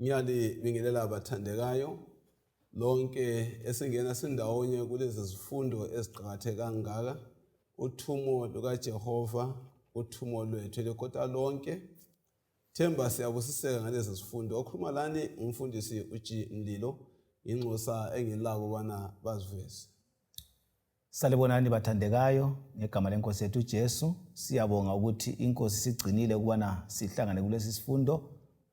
Ngiyalibingelela abathandekayo lonke esingena sindawonye kulezi zifundo eziqakatheke kangaka uthumo lukaJehova uthumo lwethu elekota lonke Themba siyabusiseka ngalezi zifundo okhuluma lani ngumfundisi uG Mlilo inxusa engilabo bana baziveze Salibonani bathandekayo ngegama lenkosi yethu Jesu siyabonga ukuthi inkosi sigcinile ukubana sihlangane kulesi sifundo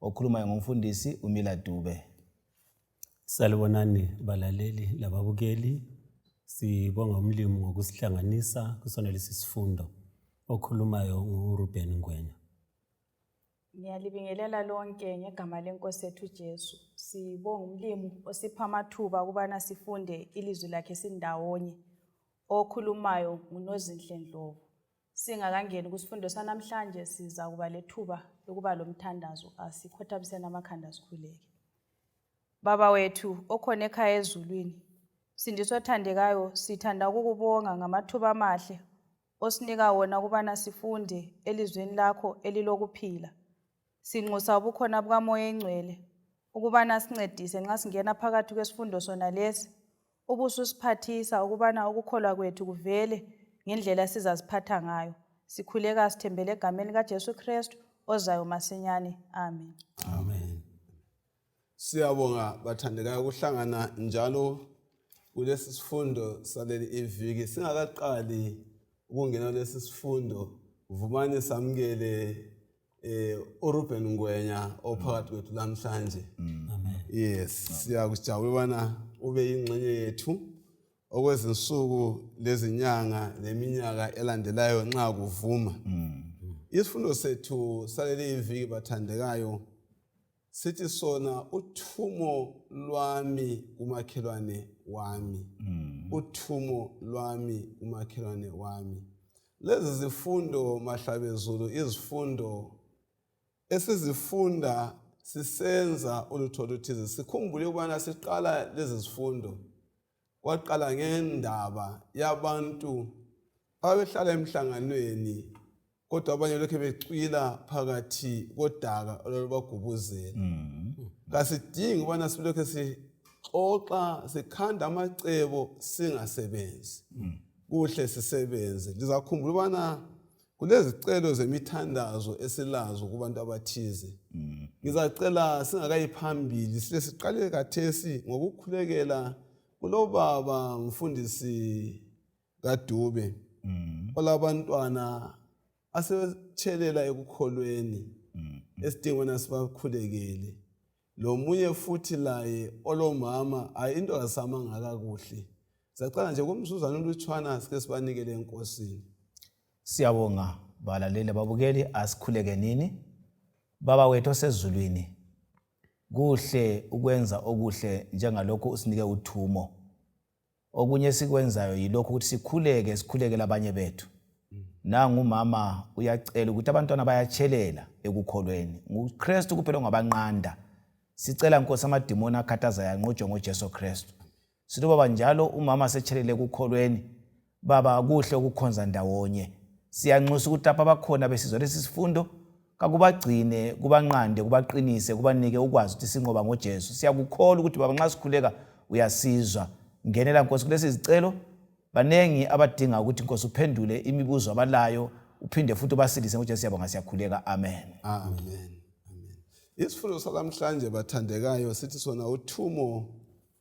okhulumayo ngomfundisi uMila Dube Salibonani balaleli lababukeli sibonga umlimu ngokusihlanganisa kusona lesi sifundo okhulumayo nguRuben Ngwenya Ngiyalibingelela lonke ngegama lenkosi yethu Jesu. Sibonga umlimu osipha amathuba ukubana sifunde ilizwi lakhe sindawonye. Okhulumayo nguNozinhle Ndlovu. Singakangeni kusifundo sanamhlanje siza kuba lethuba lokuba lomthandazo. Asikhothamiseni amakhanda sikhuleke. Baba wethu okhona ekhaya ezulwini, sindiswa othandekayo, sithanda ukukubonga ngamathuba amahle osinika wona ukubana sifunde elizweni lakho elilokuphila. Sinxusa ubukhona bukaMoya Engcwele ukubana sincedise nxa singena phakathi kwesifundo sona lesi ubususiphathisa ukubana ukukholwa kwethu kuvele ngendlela sizaziphatha ngayo. Sikhuleka sithembele egameni likaJesu Kristu ozayo masinyane. Amen. Amen. Siyabonga bathandekayo ukuhlangana njalo kulesi sifundo saleli iviki. Singakaqali ukungena kulesi sifundo, vumani samukele eh uRuben Ngwenya ophakathi kwethu namhlanje. Yes, siyakujabula bana ube yingxenye yethu okwezinsuku lezinyanga leminyaka elandelayo nxa kuvuma. Isifundo sethu saleli iviki bathandekayo sithi sona uthumo lwami kumakhelwane wami mm. uthumo lwami kumakhelwane wami lezi zifundo mahlabezulu izifundo esizifunda sisenza ulutho oluthize sikhumbule ukubana siqala lezi zifundo Kwaqala ngendaba yabantu ababehlala emhlanganweni kodwa abanye lokhe becwila phakathi kodaka olwalubagubuzela kasidingi ukubana silokhe sixoxa sikhanda amacebo singasebenzi kuhle sisebenze lizakhumbula ukubana Kulezicelo zemithandazo esilazo kubantu abathize. Mm. Ngizacela singakayi phambili sile siqale kathesi ngokukhulekela kulobaba mfundisi kaDube mm. olabantwana asetshelela ekukholweni mm. esidingweni asibakhulekele. lomunye futhi laye olomama hayi into kasamanga kakuhle siyacela nje kumzuzwana olutshwana sike sibanikele enkosini siyabonga balaleli babukeli asikhuleke nini baba wethu osezulwini kuhle ukwenza okuhle njengalokhu usinike uthumo Okunye esikwenzayo yilokhu ukuthi sikhuleke sikhuleke labanye bethu. Nangu umama uyacela ukuthi abantwana bayatshelela ekukholweni. NguKristu kuphela ongabanqanda. Sicela Nkosi amadimoni akhathazayo anqotshwe ngoJesu Kristu. Sithi baba njalo umama setshelele ekukholweni Baba, kuhle ukukhonza ndawonye. Siyanxusa ukuthi lapha bakhona besizwa lesi sifundo, kakubagcine, kubanqande, kubaqinise, kubanike ukwazi ukuthi sinqoba ngoJesu. Siyakukholwa ukuthi Baba nxa sikhuleka uyasizwa. Ngenela Nkosi kulesi zicelo, baningi abadinga ukuthi Nkosi uphendule imibuzo abalayo, uphinde futhi ubasilise ngoJesu siyabonga siyakhuleka. Amen. Amen. Isifundo salamhlanje bathandekayo sithi sona uthumo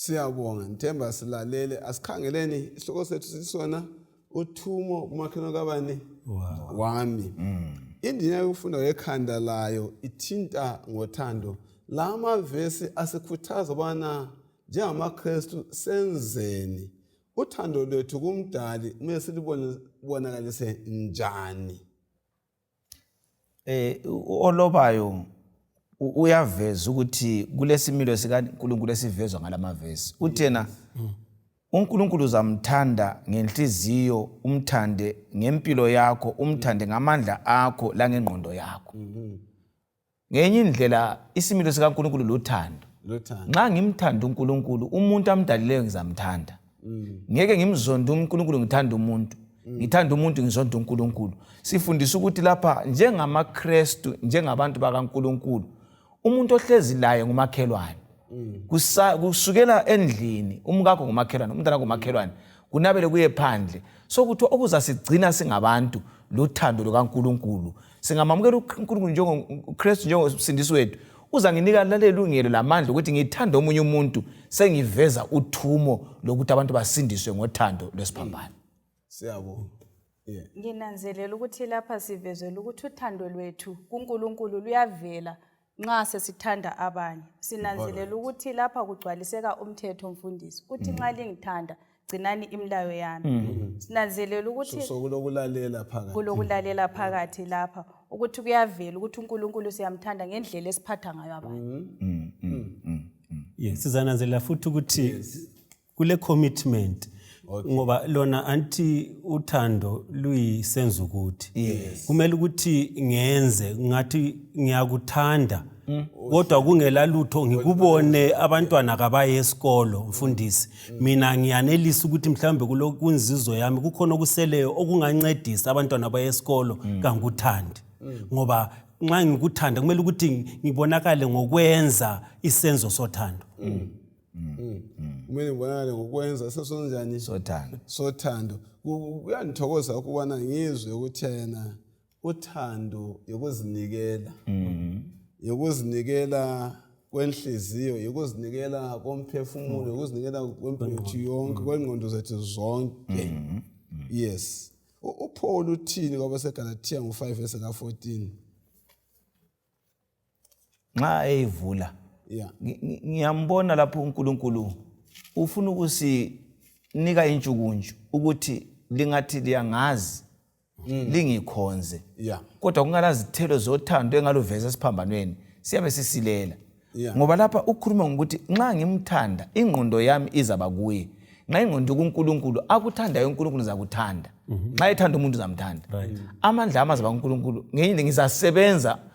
Siyabonga, ngithemba silalele. Asikhangeleni isihloko sethu sisona uthumo umakhelwane kabani Wow. wami. Indina yokufunda yekhanda layo ithinta ngothando. La mavesi asikhuthaza ubana njengamaKristu senzeni uthando lwethu kumdali kumele silibonakalise njani. Olobayo uyaveza ukuthi kulesimilo sikaNkulunkulu esivezwa ngalamavesi. Uthi yena uNkulunkulu uzamthanda ngenhliziyo, umthande ngempilo yakho, umthande ngamandla akho langengqondo yakho. ngenye indlela isimilo sikankulunkulu luthando nxa ngimthanda unkulunkulu umuntu amdalileyo ngizamthanda mm. ngeke ngimzonde unkulunkulu ngithanda umuntu mm. ngithanda umuntu ngizonde unkulunkulu sifundisa ukuthi lapha njengamakrestu njengabantu bakankulunkulu umuntu ohlezi laye ngumakhelwane mm. kusukela endlini umkakho ngumakhelwane umntana ngumakhelwane kunabele kuye phandle sokuthiwa okuzasigcina singabantu luthando lukankulunkulu singamamukela uNkulunkulu njengoKristu njengomsindisi wethu uzanginika lalelungelo lamandla ukuthi ngithande omunye umuntu sengiveza uthumo lokuthi abantu basindiswe ngothando lwesiphambano siyabonga yeah. nginanzelela ukuthi lapha sivezela ukuthi uthando lwethu kuNkulunkulu luyavela nxa sesithanda abanye sinanzelela ukuthi lapha kugcwaliseka umthetho mfundisi uthi nxa mm. lingithanda gcinani imilayo yami mm. sinanzelela ukuthi kulokulalela phakathi kulokulalela mm. phakathi lapha ukuthi kuyavela ukuthi uNkulunkulu siyamthanda ngendlela esiphatha ngayo abanye sizananzelela futhi ukuthi kule commitment okay. ngoba lona anti uthando luyisenza ukuthi yes. kumele ukuthi ngenze ngathi ngiyakuthanda mm. kodwa kungela lutho ngikubone abantwana kabaye esikolo mfundisi mm. mina ngiyanelisa ukuthi mhlawumbe kulokunzizo yami kukhona okuseleyo okungancedisa abantwana abaye esikolo mm. kanguthandi mm. ngoba nxa ngikuthanda kumele ukuthi ngibonakale ngokwenza isenzo sothando mm. mm. mm. mm. kumele ngibonakale ngokwenza sesonjani sothando sothando kuyangithokoza ukubona ngizwe ukuthi yena uthando yokuzinikela mm. yokuzinikela kwenhliziyo yokuzinikela komphefumulo yokuzinikela kwempethu yonke kwengqondo zethu zonke yes uPaul uthini kwabaseGalatia ngo-5 verse ka-14 nxa eyivula yeah. ngiyambona lapho unkulunkulu ufuna ukusinika intshukuntshu ukuthi lingathi liyangazi mm. lingikhonze yeah. kodwa kungalazithelo zothando engaluveza esiphambanweni siyabe sisilela yeah. ngoba lapha ukhuluma ngokuthi nxa ngimthanda ingqondo yami izaba kuye nxa ingqondo kunkulunkulu akuthandayo unkulunkulu zakuthanda mm-hmm. nxa mm -hmm. ethanda umuntu uzamthanda right. amandla amazaba kunkulunkulu ngenye ngizasebenza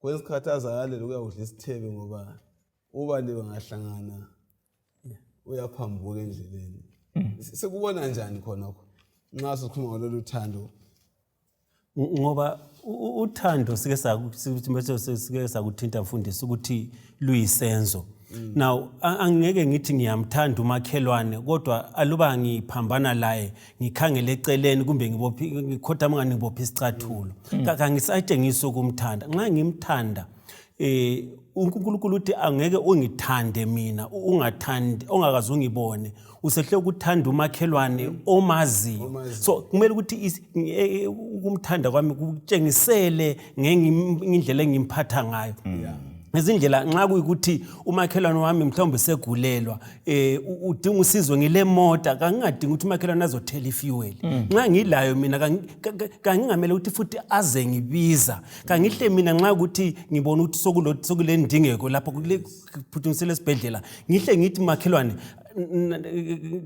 kwesinye isikhathi azakalela ukuyakudla isithebe ngoba ubaliwe ngahlangana uyaphambuka endleleni mm. sikubona njani khonokho nxa sikhuluma ngalolu thando ngoba uthando sike sakuthinta mfundisi ukuthi luyisenzo mm. now angeke ngithi ngiyamthanda umakhelwane kodwa aluba ngiphambana laye ngikhangele eceleni kumbe ngikhotha mngani ngibophe isicathulo mm. kangisayitshengisi ukumthanda nxa ngimthanda eh uNkulunkulu uthi angeke ungithande mina ungathandi ongakazi ungibone usehle ukuthanda umakhelwane mm. omaziyo so kumele ukuthi e, e, ukumthanda kwami kutshengisele ngendlela engimphatha ngayo mm. ngezindlela nxa kuyikuthi umakhelwane wami mhlawumbe segulelwa eh udinga usizo ngile mota kangingadingi ukuthi umakhelwane azothela ifuel mm. nxa ngilayo mina kangingamele ukuthi futhi aze ngibiza kangihle mina nxa ukuthi ngibona ukuthi sokulendingeko lapho phuthunisele esibhedlela ngihle ngithi makhelwane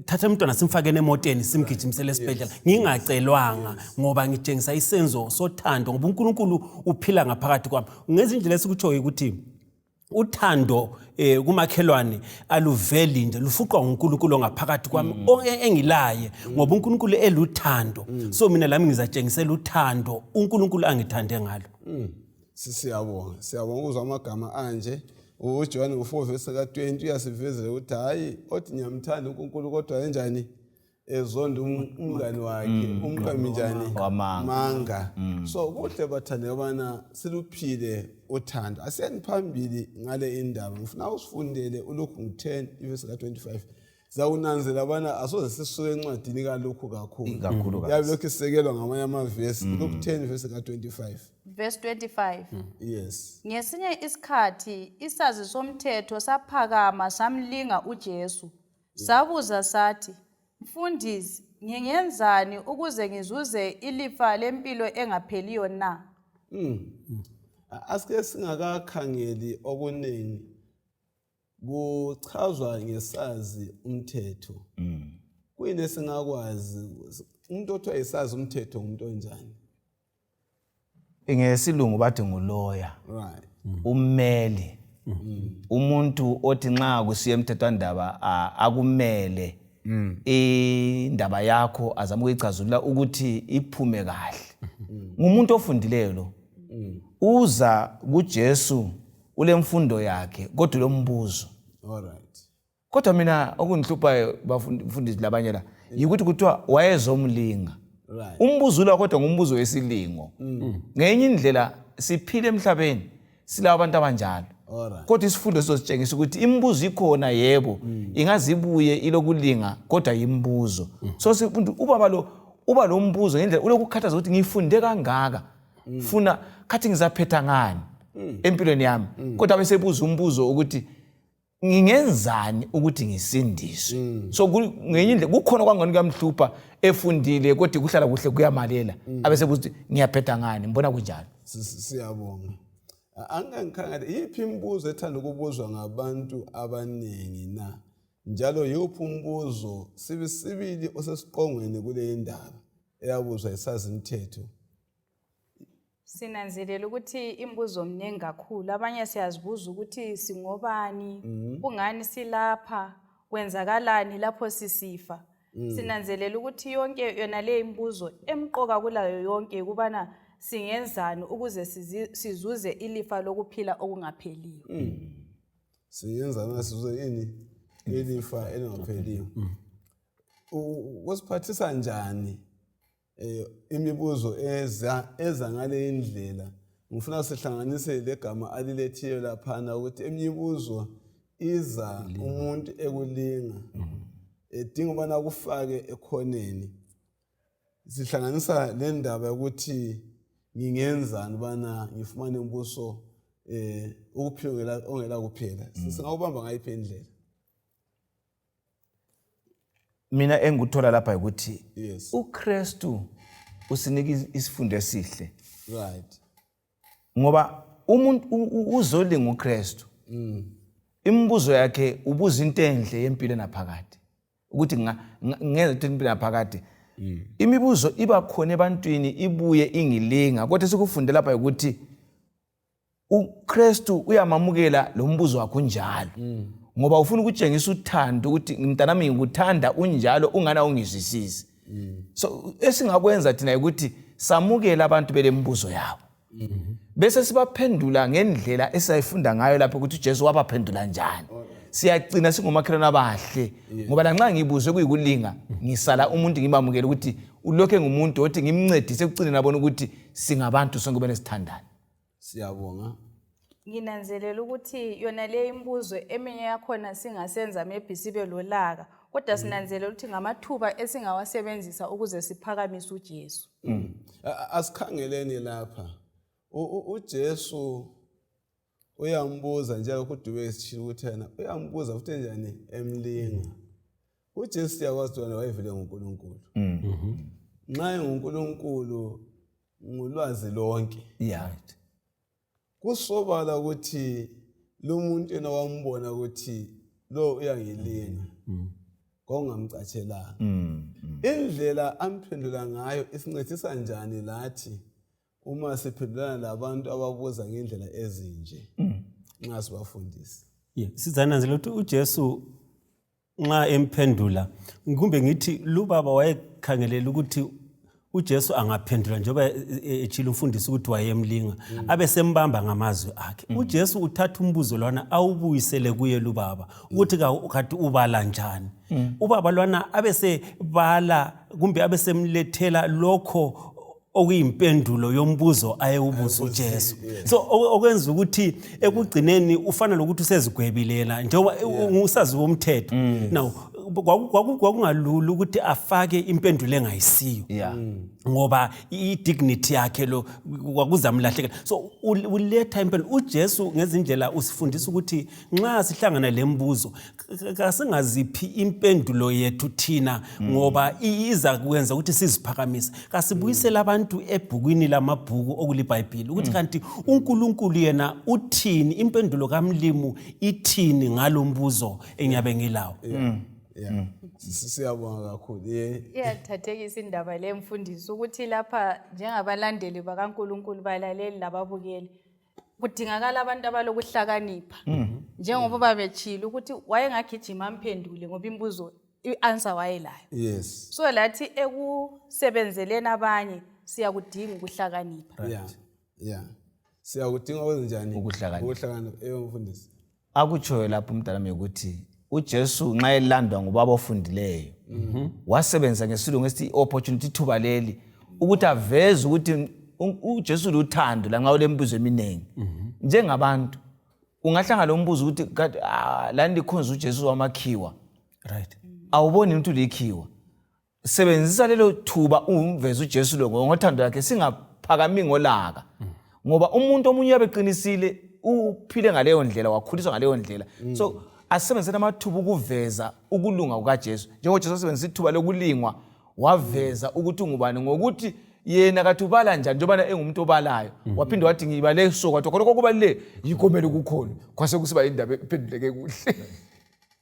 thatha umntwana simfakeni emoteni simgijimisele esibhedlela ngingacelwanga ngoba ngitshengisa isenzo sothando ngoba unkulunkulu uphila ngaphakathi kwami ngezindlela esikutshoyo ukuthi uthando eh kumakhelwane aluveli nje lufuqwa nguNkulunkulu ongaphakathi kwami mm. e, engilaye mm. ngoba uNkulunkulu eluthando mm. so mina lami ngizatshengisela uthando uNkulunkulu angithande ngalo sisiyabonga siyabonga ukuzwa amagama anje ujohane ngo-4 vesi ka-20 uyasivezela ukuthi hhayi othi ngiyamthanda unkulunkulu kodwa enjani ezonda um, mm. umngani wakhe mm. umqambi njani manga mm. so kuhle bathande abana siluphile uthando asiyani phambili ngale indaba ngifuna usifundele ulokhu ngu-10 ivesi ka-25 zakunanzela bana asoze sisuke encwadini kalokhu kakhulu kakhulu kakhulu. yabe lokhu isekelwa ngamanye amavesi lokhu 10 vesi ka-25 verse 25 yes ngesinye isikhathi isazi somthetho saphakama samlinga ujesu sabuza sathi mfundisi ngingenzani ukuze ngizuze ilifa lempilo engapheliyo na A- asike singakakhangeli okunengi Kuchazwa ngesazi umthetho. Mm. Kuyini esingakwazi umuntu othiwa yisazi umthetho ngumuntu onjani? Ngesilungu bathi nguloya. Right. Mm. Ummeli. Mm. Umuntu othi nxa kusiya emthethwandaba akumele mm. indaba yakho azama ukuyicazulula ukuthi iphume kahle. Mm. Ngumuntu ofundileyo lo. Mm. Uza kuJesu. Mm. ulemfundo yakhe kodwa ulombuzo kodwa mina okundihluphayo bafundisi labanye la yikuthi kuthiwa wayezomlinga umbuzo ula kodwa ngumbuzo wesilingo mm. ngenye indlela siphile emhlabeni silabo abantu abanjalo kodwa isifundo sizositshengisa ukuthi imibuzo ikhona yebo mm. ingazibuye ilokulinga kodwa yimibuzo mm. so sifundi ubaba lo uba lo mbuzo ngendlela ulokukhathaza ukuthi ngifunde kangaka mm. funa khathi ngizaphetha ngani mm. empilweni yami mm. kodwa besebuza umbuzo ukuthi ngingenzani ukuthi ngisindiswe mm. so ngenye indlela kukhona kwangani kuyamhlupha efundile kodwa kuhlala kuhle kuyamalela mm. abesebuza ukuthi ngiyaphetha ngani ngibona kunjalo siyabonga angangikhangele yiphi imibuzo ethanda ukubuzwa ngabantu abaningi na njalo yiphi umbuzo sibisibili osesiqongweni kule ndaba eyabuzwa yisazimthetho sinanzelela ukuthi imibuzo mningi kakhulu abanye siyazibuza ukuthi singobani Mhm. kungani silapha kwenzakalani lapho sisifa Mm. sinanzelela ukuthi yonke yona le imibuzo emqoka kulayo yonke yikubana singenzani ukuze sizi- sizuze ilifa lokuphila okungapheliyo Mm. singenza nasizuze ini ilifa elingapheliyo kusiphathisa njani eh, imibuzo eza eza ngale indlela ngifuna sihlanganise legama alilethiyo laphana ukuthi eminye imibuzo iza umuntu ekulinga mm-hmm. edinga ubana kufake ekhoneni sihlanganisa le ndaba yokuthi ngingenzani ubana ngifumane umbuso um ukuphila ongela kuphela mm. singawubamba ngayiphi indlela mina engikuthola lapha yikuthi yes. ukristu usinika isifundo esihle right. ngoba umuntu uzolinga ukristu mm. imibuzo yakhe ubuza into enhle yempilo enaphakade ukuthi ngenza ukuthi impilo enaphakade mm. imibuzo iba khona ebantwini ibuye ingilinga kodwa sikufunde lapha yikuthi uKristu uyamamukela lombuzo wakhe unjalo mm. ngoba ufuna ukutshengisa uthando ukuthi mntanami ngikuthanda unjalo ungana ungizwisisi mm. so esingakwenza thina ukuthi samukele abantu belembuzo yabo mm-hmm. bese sibaphendula ngendlela esayifunda ngayo lapho ukuthi uJesu wabaphendula njani siyagcina singomakhelwane abahle ngoba lanxa ngibuzwe kuyikulinga ngisala umuntu ngibamukele ukuthi ulokhe ngumuntu othi ngimncedise ekucineni abona ukuthi singabantu sonke benesithandane Siyabonga. Nginanzelela ukuthi yona leyo imibuzo eminye yakhona singasenza maybe sibe lolaka kodwa mm. sinanzelela ukuthi ngamathuba esingawasebenzisa ukuze siphakamise uJesu. Mm. Asikhangeleni lapha. UJesu uyambuza njalo kudume isishilo ukuthi yena uyambuza futhi njani emlinga. UJesu siyakwazi wena wayevele nguNkulunkulu. Mm. Mm-hmm. Nxa enguNkulunkulu ngulwazi lonke right kusobala ukuthi lomuntu yena wambona ukuthi lo uyangilinga mm. mm. kongamcatshelanga mm, mm. indlela amphendula ngayo isincedisa njani lathi uma siphendulana labantu ababuza ngendlela ezinje mm. nxa sibafundisa yeah. sizananzela ukuthi ujesu nxa emphendula kumbe ngithi lubaba wayekhangelele ukuthi uJesu angaphendula njengoba e, e, etshilo umfundisi ukuthi wayemlinga mm. abe sembamba ngamazwi akhe mm. uJesu uthatha umbuzo lwana awubuyisele kuye lubaba mm. ukuthi kati ubala njani ubaba lwana abe sebala kumbe abe semlethela lokho okuyimpendulo yombuzo ayewubuza uJesu so okwenza ukuthi ekugcineni ufana lokuthi usezigwebilela njengoba usazi womthetho mm. now kwakungalula ukuthi afake impendulo engayisiyo mm. ngoba i-dignity yakhe lo kwakuzamlahlekela so uletha impendulo ujesu ngezindlela usifundisa ukuthi nxa sihlangana le mbuzo kasingaziphi impendulo yethu thina mm. ngoba iza kwenza ukuthi siziphakamise kasibuyisele mm. abantu ebhukwini lamabhuku okulibhayibhile ukuthi mm. kanti unkulunkulu yena uthini impendulo kamlimu ithini ngalo mbuzo engiyabe ngilawo yeah. siyabonga kakhulu iyathathekisa indaba le mfundisi ukuthi lapha njengabalandeli bakankulunkulu balaleli lababukeli kudingakala abantu abalokuhlakanipha mhm. njengoba uba betshile ukuthi wayengagijima amphendule ngoba imbuzo i-answer wayelayo yes so lathi ekusebenzeleni abanye siyakudinga ukuhlakanipha right. yeah. yeah. siyakudinga okwenzenjani ukuhlakanipha eyo mfundisi akutshoyo lapho umntana mi ukuthi uJesu nxa elandwa ngubaba ofundileyo mhm. wasebenzisa ngesilungu esithi i-opportunity ithuba leli ukuthi aveze ukuthi uJesu luthando lanxa ulembuzo eminingi mhm. njengabantu ungahlangana lo mbuzo ukuthi ah, lani likhonza uJesu wamakhiwa right awuboni ukuthi likhiwa sebenzisa lelo thuba ungumvezi uJesu lo ngothando lakhe singaphakami ngolaka ngoba umuntu omunye uyabe eqinisile uphile ngaleyo ndlela wakhuliswa ngaleyo ndlela mm. so asisebenziseni amathuba ukuveza ukulunga kukaJesu njengoba uJesu asebenzisa ithuba lokulingwa waveza mm. ukuthi ungubani ngokuthi yena kathi ubala njani njengobana engumuntu obalayo mm. waphinde wathi ngibale so kwathi khona kokubaluleke yikomele ukukhona kwase kusiba yindaba ephenduleke kuhle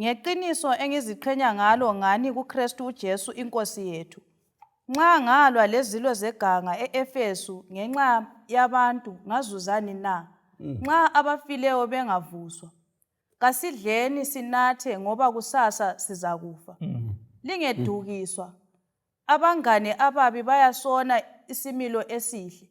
Ngeqiniso engiziqhenya ngalo ngani kuKristu uJesu iNkosi yethu. Nxa ngalwa lezilo zeganga e-Efesu ngenxa yabantu ngazuzani na? Mm. Nxa abafileyo bengavuswa, kasidleni sinathe ngoba kusasa sizakufa. Mm. Lingedukiswa. Abangane ababi bayasona isimilo esihle.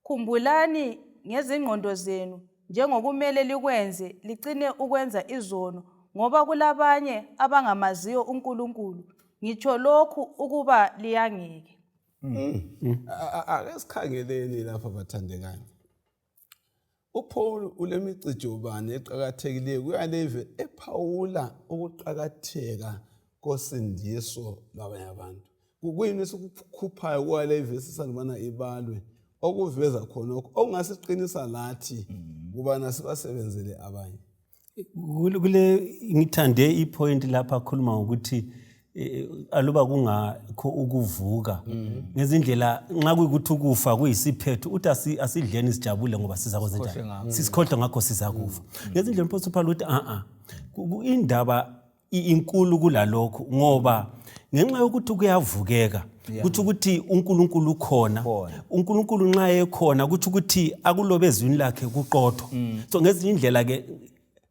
Khumbulani ngezingqondo zenu njengokumele likwenze licine ukwenza izono ngoba kulabanye abangamaziyo uNkulunkulu. Ngitsho lokhu ukuba liyangeke. Ake sikhangeleni lapha bathandekayo. UPaul ulemicijo bani eqakathekileyo kuyaleve ephawula ukuqakatheka kosindiso lwabanye abantu kuyini esikukhuphayo kuwaleve sisalubana ibalwe okuveza khonokho okungasiqinisa lathi mm. kubana sibasebenzele abanye Kule kule- ngithande ipoint lapha akhuluma ngokuthi eh, aluba kungakho ukuvuka ngezindlela nxa kuyikuthi ukufa kuyisiphetho uthi asi- asidleni sijabule ngoba sizakwenza njani sisikhohlwe ngakho sizakufa ngezindlela mposi uphawula ukuthi a-a Ku- ku- indaba inkulu kulalokho ngoba ngenxa yokuthi kuyavukeka kutsho ukuthi unkulunkulu ukhona unkulunkulu nxa ekhona kutsho ukuthi akulobe ezwini lakhe kuqotho mm. so ngezinye indlela-ke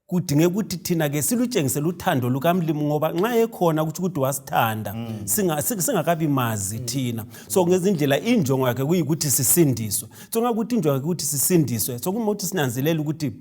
kudingeka ukuthi thina-ke silutshengisele uthando lukamlimu ngoba nxa ekhona kutsho ukuthi wasithanda mm. singakabi mazi mm. thina so ngezindlela injongo yakhe kuyikuthi sisindiswe so ngakuthi injongo yakhe ukuthi sisindiswe so kuma ukuthi sinanzelele ukuthi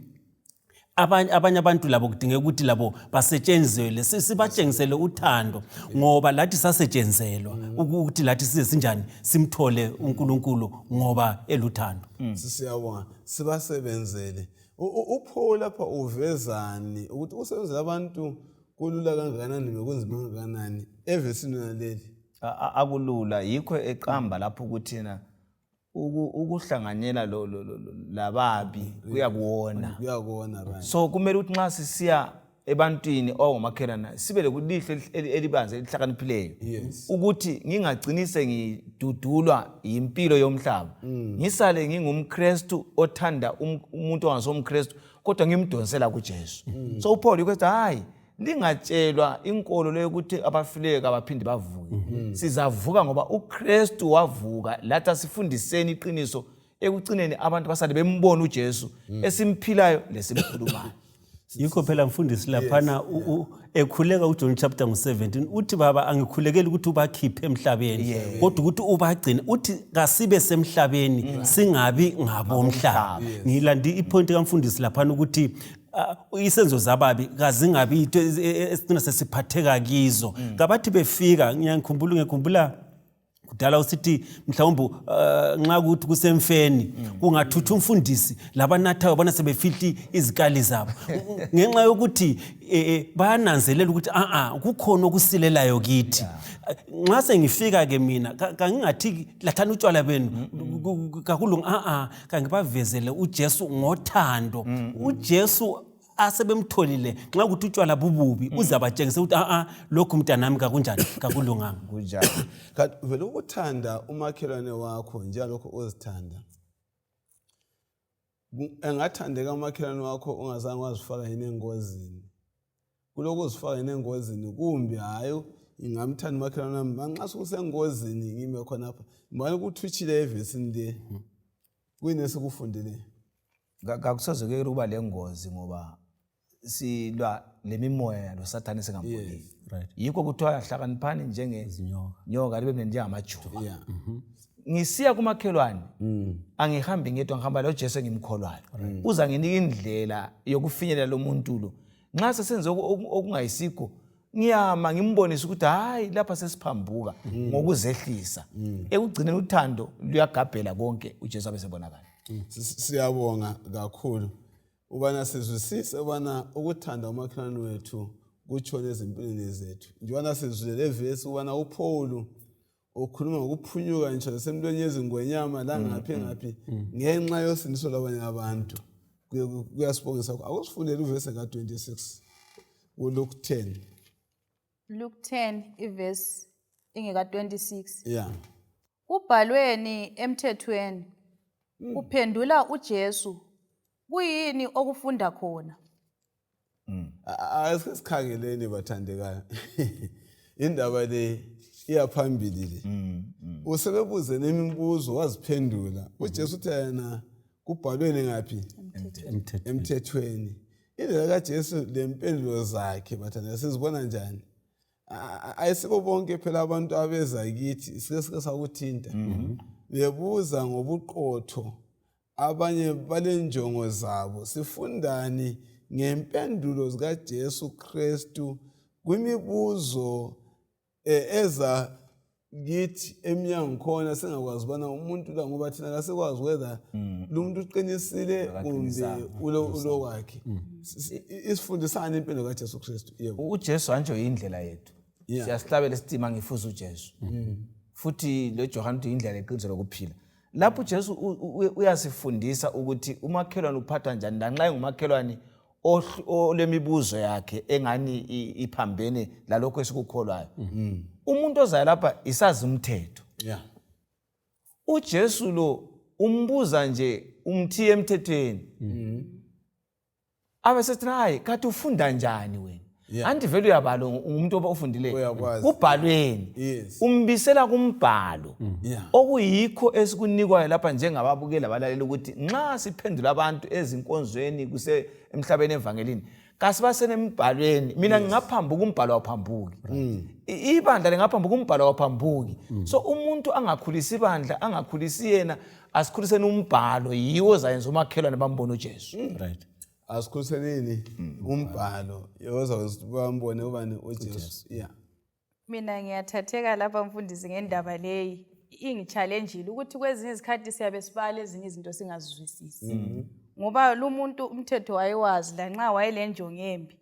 abanye abanye abantu labo kudingeka ukuthi labo basetshenzelwe si- sibatshengisele uthando ngoba lathi sasetshenzelwa uku- ukuthi lathi size sinjani simthole unkulunkulu ngoba eluthando siyabonga sibasebenzele U- u- upho lapha uvezani ukuthi ukusebenzela abantu kulula kangakanani bekunzima kangakanani evesini naleli A- a- akulula yikho eqamba lapho ukuthi na ukuhlanganyela lababi mm, kuyakuwona kuyakuwona so kumele ukuthi nxa sisiya ebantwini owangomakhelana sibe lokulihlo elibanzi elihlakaniphileyo ukuthi ngingagcini sengidudulwa yimpilo yomhlaba mm. ngisale ngingumkristu othanda um, umuntu ongasomkristu kodwa ngimdonsela kujesu mm. so uphawule ukuthi hayi lingatshelwa inkolo leyokuthi abafileyo kabaphinde bavuke mm-hmm. sizavuka ngoba ukristu wavuka lathi asifundiseni iqiniso ekucineni abantu basale bembona ujesu mm. esimphilayo lesimkhulumayo yikho phela mfundisi laphana ekhuleka ujohn chapter ngu-17 uthi baba angikhulekeli ukuthi ubakhiphe emhlabeni kodwa ukuthi ubagcine uthi kasibe semhlabeni mm. singabi ngabomhlaba ngilande ipointi kamfundisi laphana ukuthi Ah, isenzo zababi kazingabi into e- e- esicina sesiphatheka kizo mm. kabathi befika ngiyangikhumbula ngiyakhumbula kudala usithi mhlawumbe uh, nxa kuthi kusemfeni mm. kungathuthi umfundisi labanathayo bona sebefihli izikali zabo ngenxa yokuthi e, e, bayananzelela ukuthi a-a kukhona okusilelayo kithi nxa sengifika-ke mina kangingathi lathani utshwala benu kakulungi a-a kha ngibavezele ujesu ngothando mm, mm. ujesu asebemtholile nxa ukuthi utshwala bububi mm. uze abatshengise ukuthi aa lokhu mntanami kakunjani kakulunganga kunjani kanti vele ukuthanda umakhelwane wakho njengalokho ozithanda engathandeka umakhelwane wakho ungazange wazifaka yini engozini kulokuzifaka yena engozini kumbe hayi ngingamthanda umakhelwane wami manxa sukusengozini ngime khonapha mbani kuthutshile evesini le hmm. kuyini esikufundileyo kakusoze kuyekela ukuba le ngozi ngoba silwa le mimoya yalo sathane singamboniyo yikho kuthiwa hlakaniphani njengenyoka libe mnenjengamajuba mhm. ngisiya kumakhelwane mm. angihambi ngedwa ngihamba lo Jesu engimkholwayo mm. uza nginika indlela yokufinyelela lo muntu lo nxa sesenze okungayisikho ngiyama ngimbonise ukuthi hayi lapha sesiphambuka mm. ngokuzehlisa ekugcineni uthando luyagabhela konke uJesu abesebonakala siyabonga kakhulu ubana sizwisise ubana ukuthanda umakhelwane wethu kutshona ezimpilweni zethu njengobana sizwile le vesi ubana uphawulu ukhuluma ngokuphunyuka ngisho lasemntweni yezingwenyama langaphi mm, mm, ngaphi mm. ngenxa yosindiso labanye abantu kuyasibongisa akusifundele uvese ka-26 kuluke 10 luke 10 ivesi ingeka-26 ya kubhalweni emthethweni kuphendula ujesu kuyini okufunda khona mm. asike sikhangeleni bathandekayo indaba le iyaphambili le mm, mm. usebebuze nemibuzo waziphendula ujesu uthe yena kubhalweni ngaphi emthethweni indlela kajesu lempendulo zakhe bathandeka sizibona njani ayisibo bonke phela abantu abeza kithi sike sike sakuthinta mm-hmm. bebuza ngobuqotho Abanye balenjongo zabo. Sifundani ngempendulo zikaJesu Kristu kwimibuzo e, eza kithi emnyango khona singakwazi ubana umuntu la ngoba thina kasikwazi whether mm. lumuntu uqinisile kumbe ulokwakhe mm. isifundisani impilo kaJesu Kristu yebo uJesu anjo indlela yethu siyasihlabela isitima ngifuza uJesu mm. futhi lo Johane indlela eqiniso lokuphila lapho mm. ujesu uyasifundisa ukuthi umakhelwane uphathwa njani lanxa engumakhelwane olemibuzo yakhe engani iphambene lalokho esikukholwayo mm. mm. umuntu ozayo lapha isazi umthetho ujesu lo umbuza nje umthiye emthethweni abesethi hayi kathi ufunda njani wena yeah. anti vele uyabalo umuntu oba ofundileyo kubhalweni yes. umbisela kumbhalo mm. yeah. okuyikho esikunikwayo lapha njengababukeli abalalela ukuthi nxa siphendula abantu ezinkonzweni kuse emhlabeni evangelini kasibasene emibhalweni mina yes. ngingaphambuka umbhalo awuphambuki right. mm. ibandla lingaphambuka umbhalo awuphambuki mm. so umuntu angakhulisi ibandla angakhulisi yena asikhuliseni umbhalo yiwo ozayenza umakhelwane bambone ujesu hmm. right asikhuseni hmm. umbhalo yoza bambone ubani ujesu ya mina ngiyathatheka lapha mfundisi ngendaba leyi ingitshalenjile ukuthi kwezinye izikhathi siyabe sibala ezinye izinto singazizwisisi hmm. ngoba lumuntu umthetho wayewazi lanxa wayelenjongo embi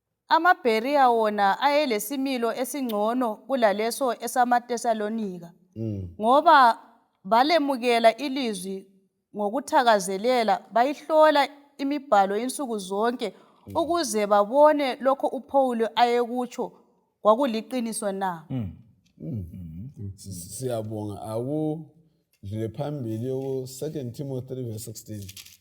AmaBheriya wona ayelesimilo esingcono kulaleso esamaThesalonika ngoba balemukela ilizwi ngokuthakazelela bayihlola imibhalo insuku zonke ukuze babone lokho uPhawuli ayekutsho kwakuliqiniso na. Mm. Mm. Mm. Siyabonga akudlule phambili yoku 2 Timothy 3 verse 16.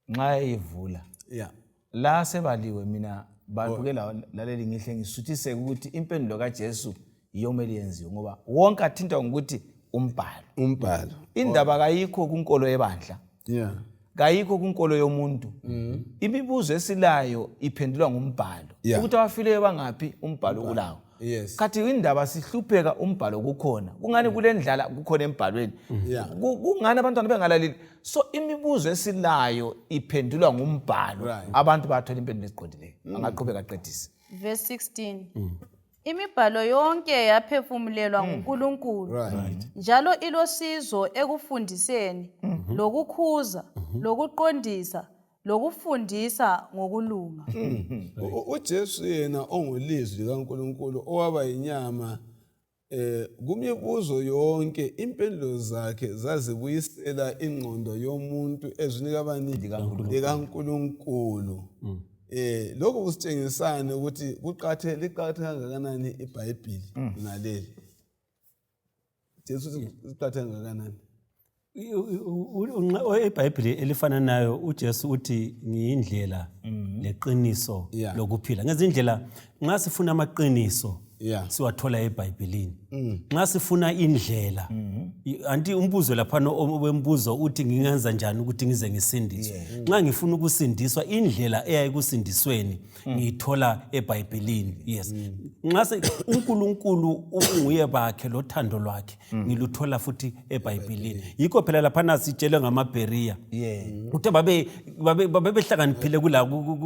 nxa eyivula yeah. la sebaliwe mina bantu ke laleli ngihle ngisuthiseke ukuthi impendulo kajesu yiyo kumele yenziwe ngoba wonke athintwa ngokuthi umbhalo umbhalo indaba kayikho kunkolo yebandla yeah kayikho kunkolo yomuntu mm-hmm. imibuzo esilayo iphendulwa ngumbhalo ukuthi abafileyo bangaphi umbhalo kulawo yes khathi indaba sihlupheka umbhalo kukhona kungani kule ndlala kukhona embhalweni mm-hmm. kungani abantwana bengalaleli so imibuzo esilayo iphendulwa ngumbhalo right. abantu bathola impendulo eziqondileyo mm. angaqhubeka aqedise verse 16 mm. imibhalo yonke yaphefumulelwa mm. ngunkulunkulu right. njalo ilosizo ekufundiseni mm -hmm. lokukhuza mm -hmm. lokuqondisa lokufundisa ngokulunga mm-hmm. uJesu yena ongulizwi likaNkuluNkulu owaba inyama Kumibuzo yonke impendulo zakhe zazibuyisela ingqondo yomuntu ezwini kabani likaNkulunkulu mm. eh lokhu kusitshengisani ukuthi kuqathe liqathe kangakanani iBhayibhili mm. naleli Jesu liqathe kangakanani ebhayibhile elifananayo ujesu uthi ngiyindlela mhm. leqiniso lokuphila ngezindlela nxa sifuna amaqiniso siwathola ebhayibhilini mm. nxa sifuna indlela mhm. anti umbuzo laphana wembuzo uthi ngingenza njani ukuthi ngize ngisindiswe nxa ngifuna ukusindiswa indlela eya ekusindisweni mm. ngiyithola ebhayibhilini yes mm. nxa unkulunkulu unguye bakhe lothando lwakhe mm. ngiluthola futhi ebhayibhilini yikho phela laphana sitshelwe ngamabheriya kuthe babebehlakaniphile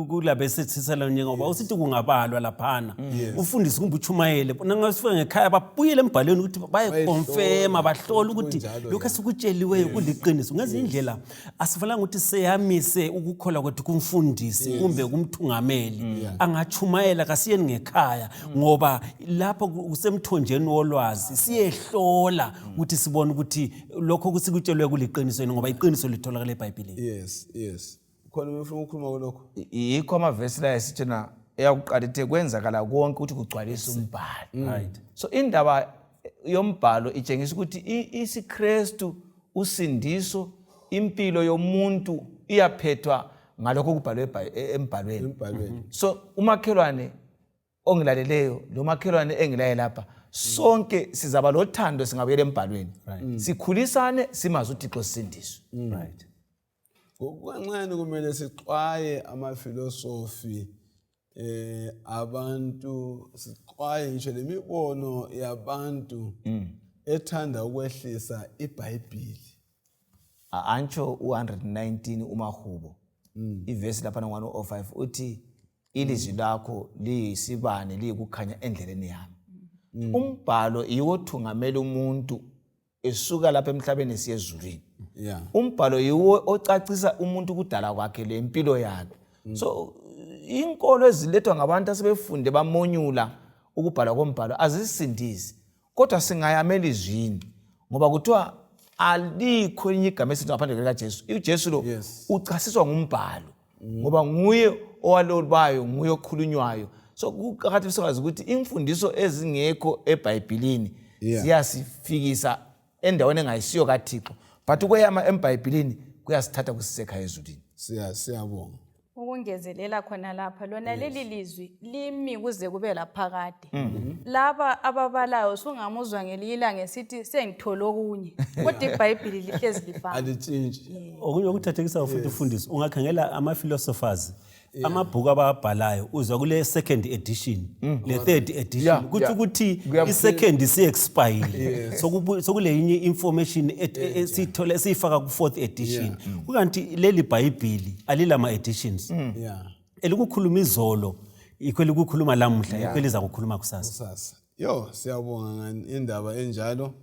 kulabesethisiselanye ngoba usithi kungabalwa laphana mm. ufundise kumbe utshumayele nangasifika ngekhaya babuyele embhalweni ukuthi bayekonfema bahlole ukuthi lokhu esikutsheliweyo kuliqiniso ngezinye indlela asifanelanga ukuthi seyamise ukukholwa kwethu kumfundisi kumbe kumthungameli mm. angatshumayela kasiyeni ngekhaya mm. ngoba lapho kusemthonjeni wolwazi siyehlola mm. ukuthi sibone ukuthi lokho kusikutshelwe kuliqiniso yini ngoba iqiniso litholakala ebhayibhilini yes yes khona umfuna ukukhuluma kulokho yikho amavesi la esithena eyakuqala ithe kwenzakala konke ukuthi kugcwalise umbhalo so indaba yombhalo itshengisa ukuthi isiKristu usindiso impilo yomuntu iyaphethwa ngalokho okubhalwe e-, embhalweni mhm. so umakhelwane ongilaleleyo lo makhelwane engilaye lapha sonke sizaba lothando singabuyela embhalweni sikhulisane simazi uthixo sisindiswe Ngokukancane kumele sixwaye amafilosofi eh abantu sixwaye ngisho lemibono yabantu mm. ethanda ukwehlisa iBhayibhili. Antsho u119 umahubo. Mm. Ivesi lapha ngwana o5 uthi ilizwi lakho liyisibane liyikukhanya endleleni yami. Mm. Umbhalo iwothungamela umuntu esuka lapha emhlabeni esiya ezulwini yeah. umbhalo yiwo ocacisa umuntu ukudala kwakhe le mpilo yakhe mm. so inkolo ezilethwa ngabantu asebefunde bamonyula ukubhalwa kombhalo azisindisi kodwa singayamela izwini ngoba kuthiwa alikho elinye igama esithi ngaphandle likajesu ujesu lo yes. uchasiswa ngumbhalo mm. ngoba nguye owalobayo nguye okhulunywayo so kuqakathekile sikwazi ukuthi imfundiso ezingekho ebhayibhilini yeah. ziyasifikisa endaweni engayisiyo kathixo but ukweyama embhayibhilini kuyasithatha kusisekha ezulwini siyabonga ukungezelela khona lapha lona yes. leli lizwi limi kuze kube laphakade kude mhm. laba ababalayo sungamuzwa ngelinye ilanga esithi sengithole okunye kodwa ibhayibhili lihlezi lifana alitshintshi okunye okuthathekisayo futhi ufundisi ungakhangela ama-philosophers amabhuku abawabhalayo uzwa kule second edition mm. le third edition kuthi ukuthi i-second si-expayile sokule yinye information e- e- esiyithola esiyifaka ku-fourth edition kukanti leli bhayibhili alilama-editions mm. elikukhuluma izolo yikho elikukhuluma lamuhla yikho elizakukhuluma kusasa kusasa yo siyabonga ngani indaba enjalo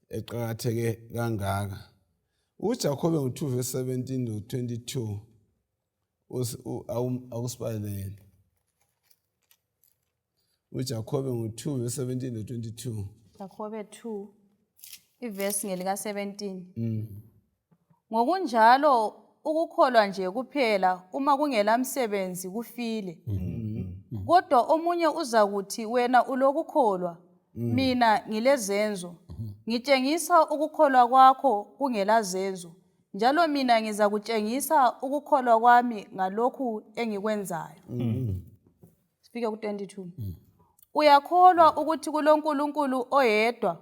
eqakatheke kangaka ujakobe ngo-2 verse 17 no 22 akusibalele uJakobe ngo-2 verse 17 to 22. Jakobe 2 ivesi ngelika 17 Mm. ngokunjalo ukukholwa nje kuphela uma kungela msebenzi kufile kodwa omunye uzakuthi wena ulokukholwa mina ngilezenzo ngitshengisa ukukholwa kwakho kungela zenzo njalo mina ngizakutshengisa ukukholwa kwami ngalokhu engikwenzayo sifike ku-22 uyakholwa ukuthi kulonkulunkulu oyedwa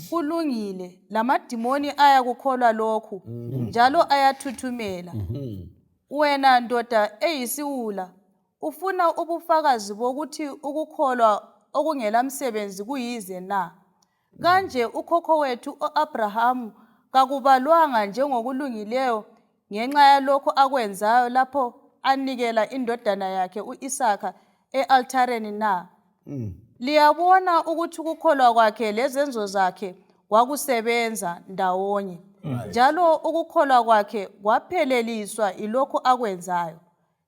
kulungile lamadimoni ayakukholwa lokhu njalo ayathuthumela wena ndoda eyisiwula ufuna ubufakazi bokuthi ukukholwa okungelamsebenzi kuyize na Kanje ukhokho wethu u-Abrahamu kakubalwanga njengokulungileyo ngenxa yalokho akwenzayo lapho anikela indodana yakhe u-Isaka e-althareni na? Mm. Liyabona ukuthi ukukholwa kwakhe lezenzo zakhe kwakusebenza ndawonye. Njalo ukukholwa kwakhe kwapheleliswa yilokho akwenzayo.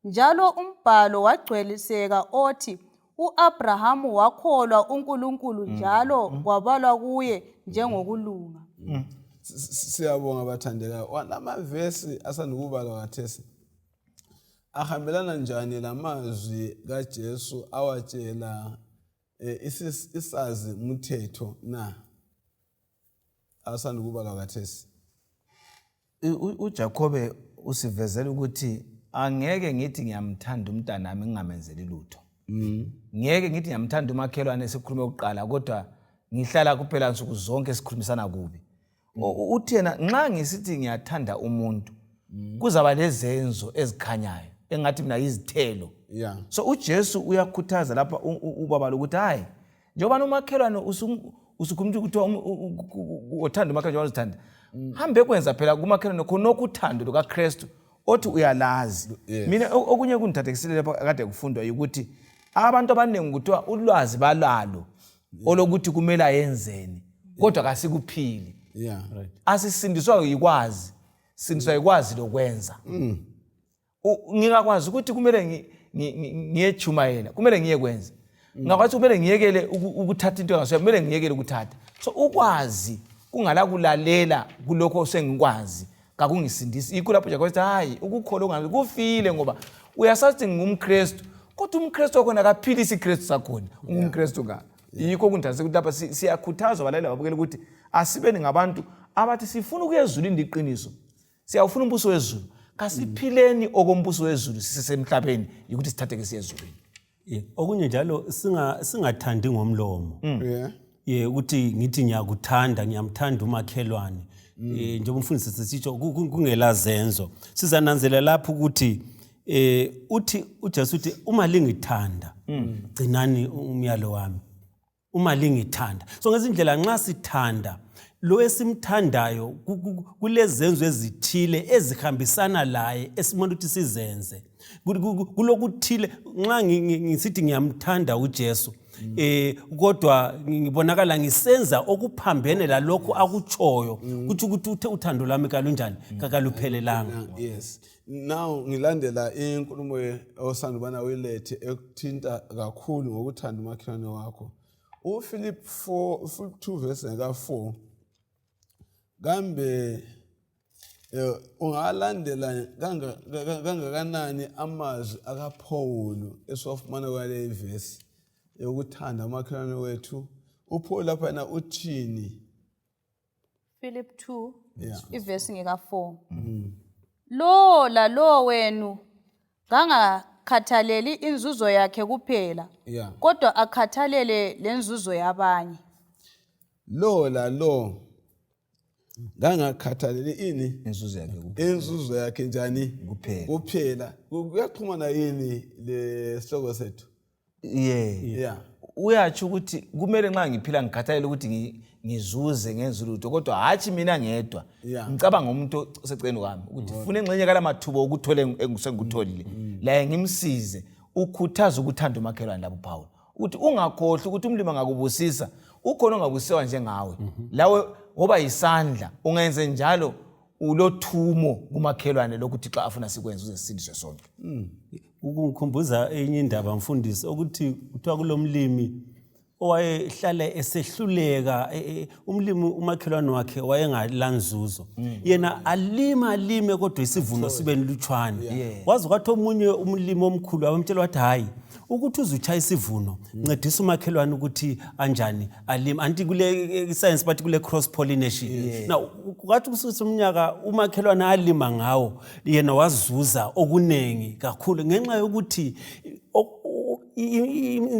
Njalo umbhalo wagcweliseka othi uAbraham wakholwa uNkulunkulu mm. njalo mm. kwabalwa kuye njengokulunga. Mm. Siyabonga bathandekayo. Wanamavesi asandukubalwa kathesi. Ahambelana njani lamazwi kaJesu awatshela eh, isazi mthetho na? asanda ukubalwa kathesi uJakobe usivezela ukuthi angeke ngithi ngiyamthanda umntanami ngingamenzeli lutho mm. ngeke ngithi ngiyamthanda umakhelwane sikhulume kuqala kodwa ngihlala kuphela nsuku zonke sikhulumisana kubi mm. uthi yena nxa ngisithi ngiyathanda umuntu mm. kuzaba lezenzo ezikhanyayo engathi mina yizithelo so ujesu uyakhuthaza lapha ubaba lokuthi hhayi njengoba nomakhelwane usukhuluma ukuthi um, uthanda umakhelwane wazithanda mm. hambe kwenza phela kumakhelwane khonokho uthando lukakristu othi uyalazi mina okunye kundithathekisile lapha kade kufundwa yukuthi abantu abaningi kuthiwa ulwazi balalo olokuthi kumele ayenzeni kodwa kasikuphili asisindiswa yikwazi sindiswa yikwazi lokwenza mm. ngingakwazi ukuthi kumele ngiyetshumayela kumele ngiye kwenza mm. ngingakwazi kumele ngiyekele ukuthatha into engasoya kumele ngiyekele ukuthatha so ukwazi kungala kulalela kulokho osengikwazi kakungisindisi yikho lapho jakobe sithi hayi ukukholwa ungabi kufile ngoba uyasathi ngingumkristu kodwa umkristu wakhona akaphile isikristu sakhona ungumkristu ka yikho kundase ukuthi lapha siyakhuthazwa balaleli babukela ukuthi asibeni ngabantu abathi sifuna ukuyezula indiqiniso siyawufuna umbuso wezulu kasiphileni okombuso wezulu sisesemhlabeni yikuthi sithatheke siyezulwini yeah. okunye njalo singathandi singa ngomlomo mm. yeah. yeah, ukuthi ngithi ngiyakuthanda ngiyamthanda umakhelwane mm. eh, njengoba umfundisi sisitsho kungela zenzo sizananzela lapho ukuthi eh uthi uJesu uthi uma lingithanda mm. gcinani umyalo wami uma lingithanda so ngezindlela nxa sithanda lo esimthandayo kulezenzo ezithile ezihambisana laye esimele ukuthi sizenze kulokuthile nxa ngisithi ngiyamthanda ujesu um eh, kodwa ngibonakala ngisenza okuphambene lalokho akutshoyo mm. kutsho ukuthi uthando lwami kalunjani mm. kakaluphelelanga Now ngilandela inkulumo osanda ubana uyilethe ekuthinta kakhulu ngokuthanda umakhelwane wakho. UFilip 4 Filip 2 verse ka 4 kambe eh, ungalandela kangakanani amazwi akaPawulu esiwafumana kwale ivesi yokuthanda umakhelwane wethu uPawulu lapha yena uthini Philip 2 Yeah. ivesi ngeka-4 lowo lalowo wenu kangakhathaleli inzuzo yakhe kuphela Yeah. kodwa akhathalele lenzuzo yabanye Lo la lo. Ngangakhathalele ini? inzuzo yakhe ku- Inzuzo yakhe njani? Kuphela. Kuphela. Kuyaxhumana yini le sihloko sethu? yeah. yeah. uyatsho ukuthi kumele nxa ngiphila ngikhathalele ukuthi ngizuze ngenza ulutho kodwa hatshi mina ngedwa ngicabanga umuntu oseceni kwami ukuthi funa engxenye kala mathuba okuthole sengikutholile mm, mm. laye ngimsize ukhuthaza ukuthanda umakhelwane labo phawula ukuthi ungakhohlwa ukuthi umlimi angakubusisa ukhona ongabusiwa njengawe mhm. lawe ngoba yisandla ungenze njalo ulothumo kumakhelwane lokuthi xa afuna sikwenza uze sisindiswe sonke mm. ukungikhumbuza enye indaba mfundisi ukuthi kuthiwa kulomlimi owayehlale esehluleka e, e, umlimi umakhelwane wakhe wayengalanzuzo mm. yena alima alime kodwa isivuno sibe nilutshwane waze kwathi omunye umlimi omkhulu abamtshela wathi hhayi ukuthi uzutshaya isivuno mm. ncedisa umakhelwane ukuthi anjani alime anti kule e, science bathi kule cross pollination na kwathi kususe umnyaka umakhelwane alima ngawo yena wazuza okunengi kakhulu ngenxa yokuthi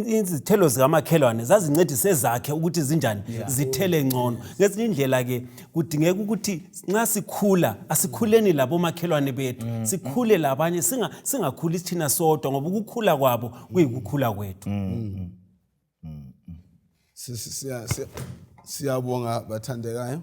izithelo zikamakhelwane zazincedise zakhe ukuthi zinjani zithele ngcono ngezinye indlela-ke kudingeka ukuthi nxa sikhula asikhuleni labomakhelwane bethu mm, mm. sikhule labanye singakhuli sithina sodwa ngoba ukukhula kwabo kuyikukhula kwethu mm, siyabonga bathandekayo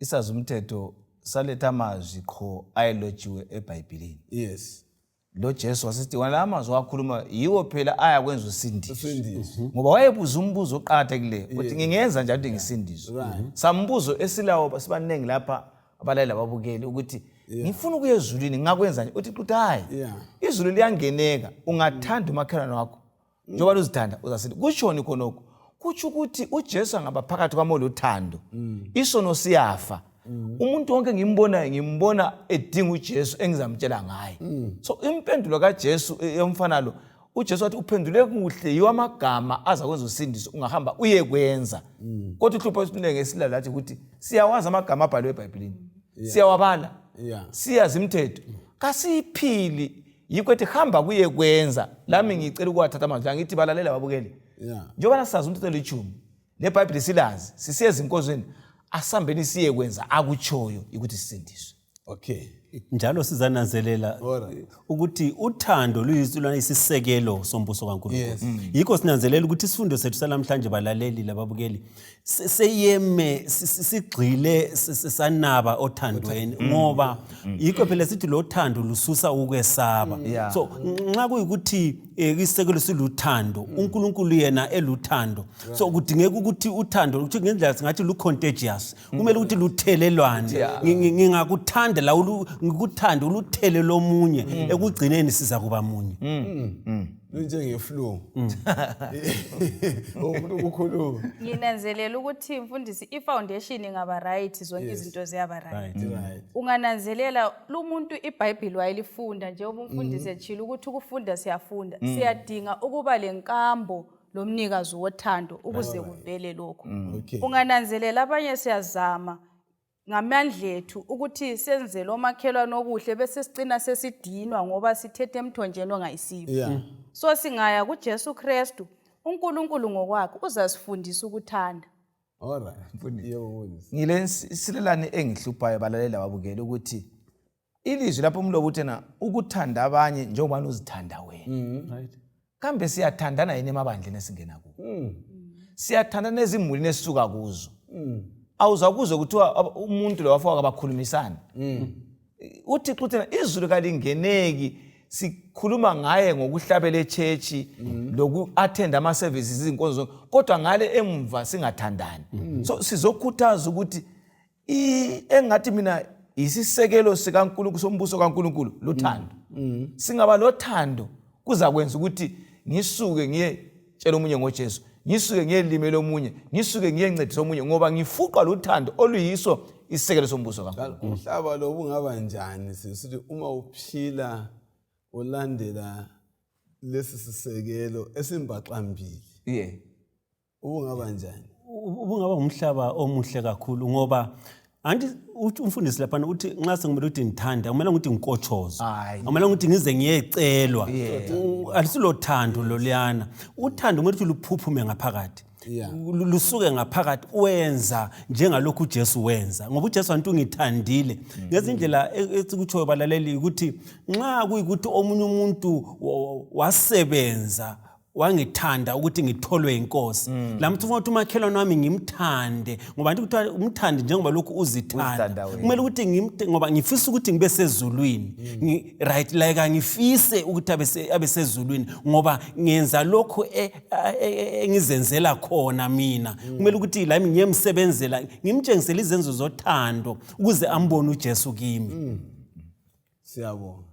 isazi umthetho saletha amazwi qho ayelotshiwe ebhayibhilini yes lo jesu wasithi wona la amazwi wakhuluma yiwo phela ayakwenza usindiswe mhm. ngoba wayebuza umbuzo oqakathekileyo ukuthi ngingenza njani ukuthi ngisindiswe mhm. sambuzo esilawo sibaningi lapha abalaleli ababukeli ukuthi ngifuna ukuya ezulwini ngakwenzani uthi quthayi izulu liyangeneka ungathanda umakhelwane wakho mm. njengoba luzithanda uzasinde kutshoni khonokho kutsho ukuthi ujesu angaba phakathi kwami oluthando mm. isono siyafa mm. umuntu wonke ngimbonayo ngimbona edinga ujesu engizamtshela ngaye so impendulo kajesu e, yomfana lo ujesu wathi uphendule kuhle yiwo amagama aza kwenza usindiso ungahamba uye kwenza kodwa uhlupho esinenge esilalo athi ukuthi siyawazi amagama abhaliwe ebhayibhilini siyawabala siyazi imithetho kasiyiphili yikho ethi hamba kuye kwenza lami ngicela ukuwathatha amazwi la ngithi balalela babukeli Yeah. njengobana sazi umthetho olitshumi lebhayibhile silazi sisiye ezinkozweni asihambeni siye kwenza akutshoyo yikuthi sisindiswe Okay. njalo sizananzelela Alright. ukuthi uthando luyisona isisekelo sombuso kankulunkulu Yes. yikho sinanzelela ukuthi isifundo sethu salamhlanje balaleli lababukeli seyeme sigxile sanaba othandweni mm. ngoba mm. yikho phela sithi lo thando lususa ukwesaba mm. so nxa kuyikuthi eh, isisekelo siluthando unkulunkulu yena eluthando so kudingeka ukuthi uthando ukuthi ngendlela singathi lu-contagious kumele ukuthi luthelelwane ngingakuthanda la ngikuthande uluthele lomunye ekugcineni siza kuba munye lunjengeflu mm. umuntu ukukhuluma nginanzelela ukuthi mfundisi ifoundation ingaba right zonke izinto ziyaba right mm. ungananzelela lumuntu ibhayibhili wayelifunda njengoba umfundisi mm. etshilo ukuthi ukufunda siyafunda siyadinga ukuba lenkambo lomnikazi wothando ukuze kuvele lokho ungananzelela abanye siyazama ngamandla ethu ukuthi senzele omakhelwane okuhle besesicina sesidinwa ngoba sithethe emthonjeni ongayisiwo yeah. Mm. so singaya kujesu kristu unkulunkulu ngokwakhe uzasifundisa ukuthanda ngile nsilelane engihluphayo balalela wabukela ukuthi ilizwi lapho umlobo uthena ukuthanda abanye njengobani uzithanda wena mm, right. kambe siyathandana yini emabandleni esingena kuwo mm. siyathandana ezimulini esisuka kuzo mm. awuza kuzwe kuthiwa umuntu lo wafowaka bakhulumisana mm. uthixo uthena izulu kalingeneki sikhuluma ngaye ngokuhlabela etshetshi mm. loku-athenda ama-services izinkonzo kodwa ngale emva singathandani mm. so sizokhuthaza ukuthi engathi mina yisisekelo sikaNkulunkulu sombuso kaNkulunkulu lothando mm. mm. singaba lothando kuzakwenza ukuthi ngisuke ngiye tshela omunye ngoJesu ngisuke ngiyelimela omunye ngisuke ngiyencedisa omunye ngoba ngifuqwa luthando oluyiso isisekelo sombuso kaNkulunkulu umhlaba lo bungaba njani sisithi uma uphila ulandela lesi sisekelo esimbaxambili yeah ubungaba njani ubungaba ngumhlaba omuhle kakhulu ngoba anti umfundisi laphana uthi nxa sekumele ukuthi ngithanda kumele ukuthi ngikotshozwe kumele ukuthi ngize ngiyecelwa alisilothando loluyana uthando kumele ukuthi luphuphume ngaphakathi lusuke ngaphakathi wenza njengalokhu uJesu wenza ngoba uJesu antu ngithandile mm. ngezindlela e, esikutshoyo balaleli ukuthi nxa kuyikuthi omunye umuntu wasebenza wangithanda ukuthi ngitholwe yinkosi mm. la mthi ufuna ukuthi umakhelwane wami ngimthande ngoba nti kuthiwa umthande njengoba lokhu uzithanda kumele ukuthi ngoba ngifisa ukuthi ngibe sezulwini mm. right like angifise ukuthi abe sezulwini ngoba ngenza lokhu e, e, e, engizenzela khona mina mm. kumele ukuthi lami ngiyemsebenzela ngimtshengisele izenzo zothando ukuze ambone ujesu kimi siyabonga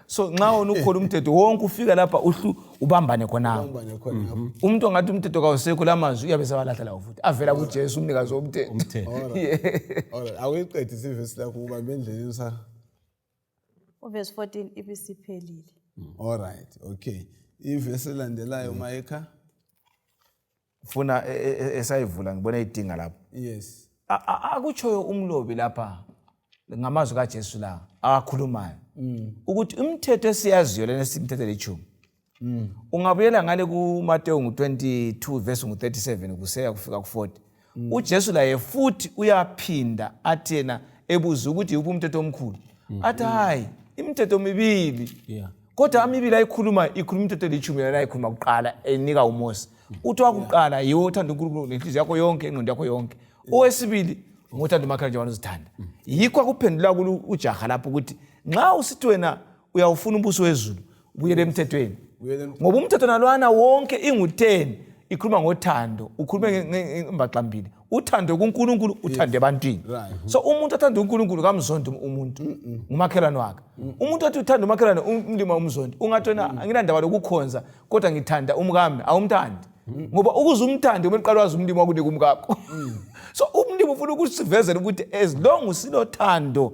so nxa wona ukhona umthetho wonke ufika lapha uhlu ubambane khonapho Ubambane khonapho. Mhm. umuntu ongathi umthetho kawusekho la mazwi uyabe sebalahla lawo futhi avela kujesu umnikazi womthetho Umthetho. Alright, awuyiqedi sivesi lakho ubambe endleleni sa uvesi 14 ibisiphelile allright okay ivesi elandelayo mayekha funa e, e, e, esayivula ngibona idinga lapho yes akutshoyo umlobi lapha ngamazwi kaJesu la akhulumayo mm. ukuthi imithetho esiyaziyo lena simithetho lechumi mm. ungabuyela ngale kuMateyu ngu-22 verse ngu-37 kuseya kufika ku-40 mm. uJesu laye futhi uyaphinda athi yena ebuza ukuthi yikuphi umthetho omkhulu mm. athi hayi imithetho mibili yeah kodwa amibili ayikhuluma ikhuluma into elithumi yona ayikhuluma kuqala enika uMose uthi wakuqala yiwo othanda unkulunkulu ngenhliziyo yakho yonke ingqondo yakho yonke owesibili ngothanda umakhelwane njengoba uzithanda yikho akuphendula kulu ujaha lapho ukuthi nxa usithi wena uyawufuna umbuso wezulu ubuyele emthethweni ngoba umthetho nalwana wonke ingu-10 ikhuluma ngothando ukhulume ngembaxambili uthande kuNkulunkulu uthande ebantwini so umuntu athanda uNkulunkulu kamzondi umuntu ngumakhelwane wakhe umuntu athi uthanda umakhelwane umlima umzondi ungathi wena anginandaba lokukhonza kodwa ngithanda umkami awumthandi ngoba ukuze umthande kumele uqale wazi umlimi wakunika umkakho mm. so umlimi ufuna ukusivezela ukuthi as long silothando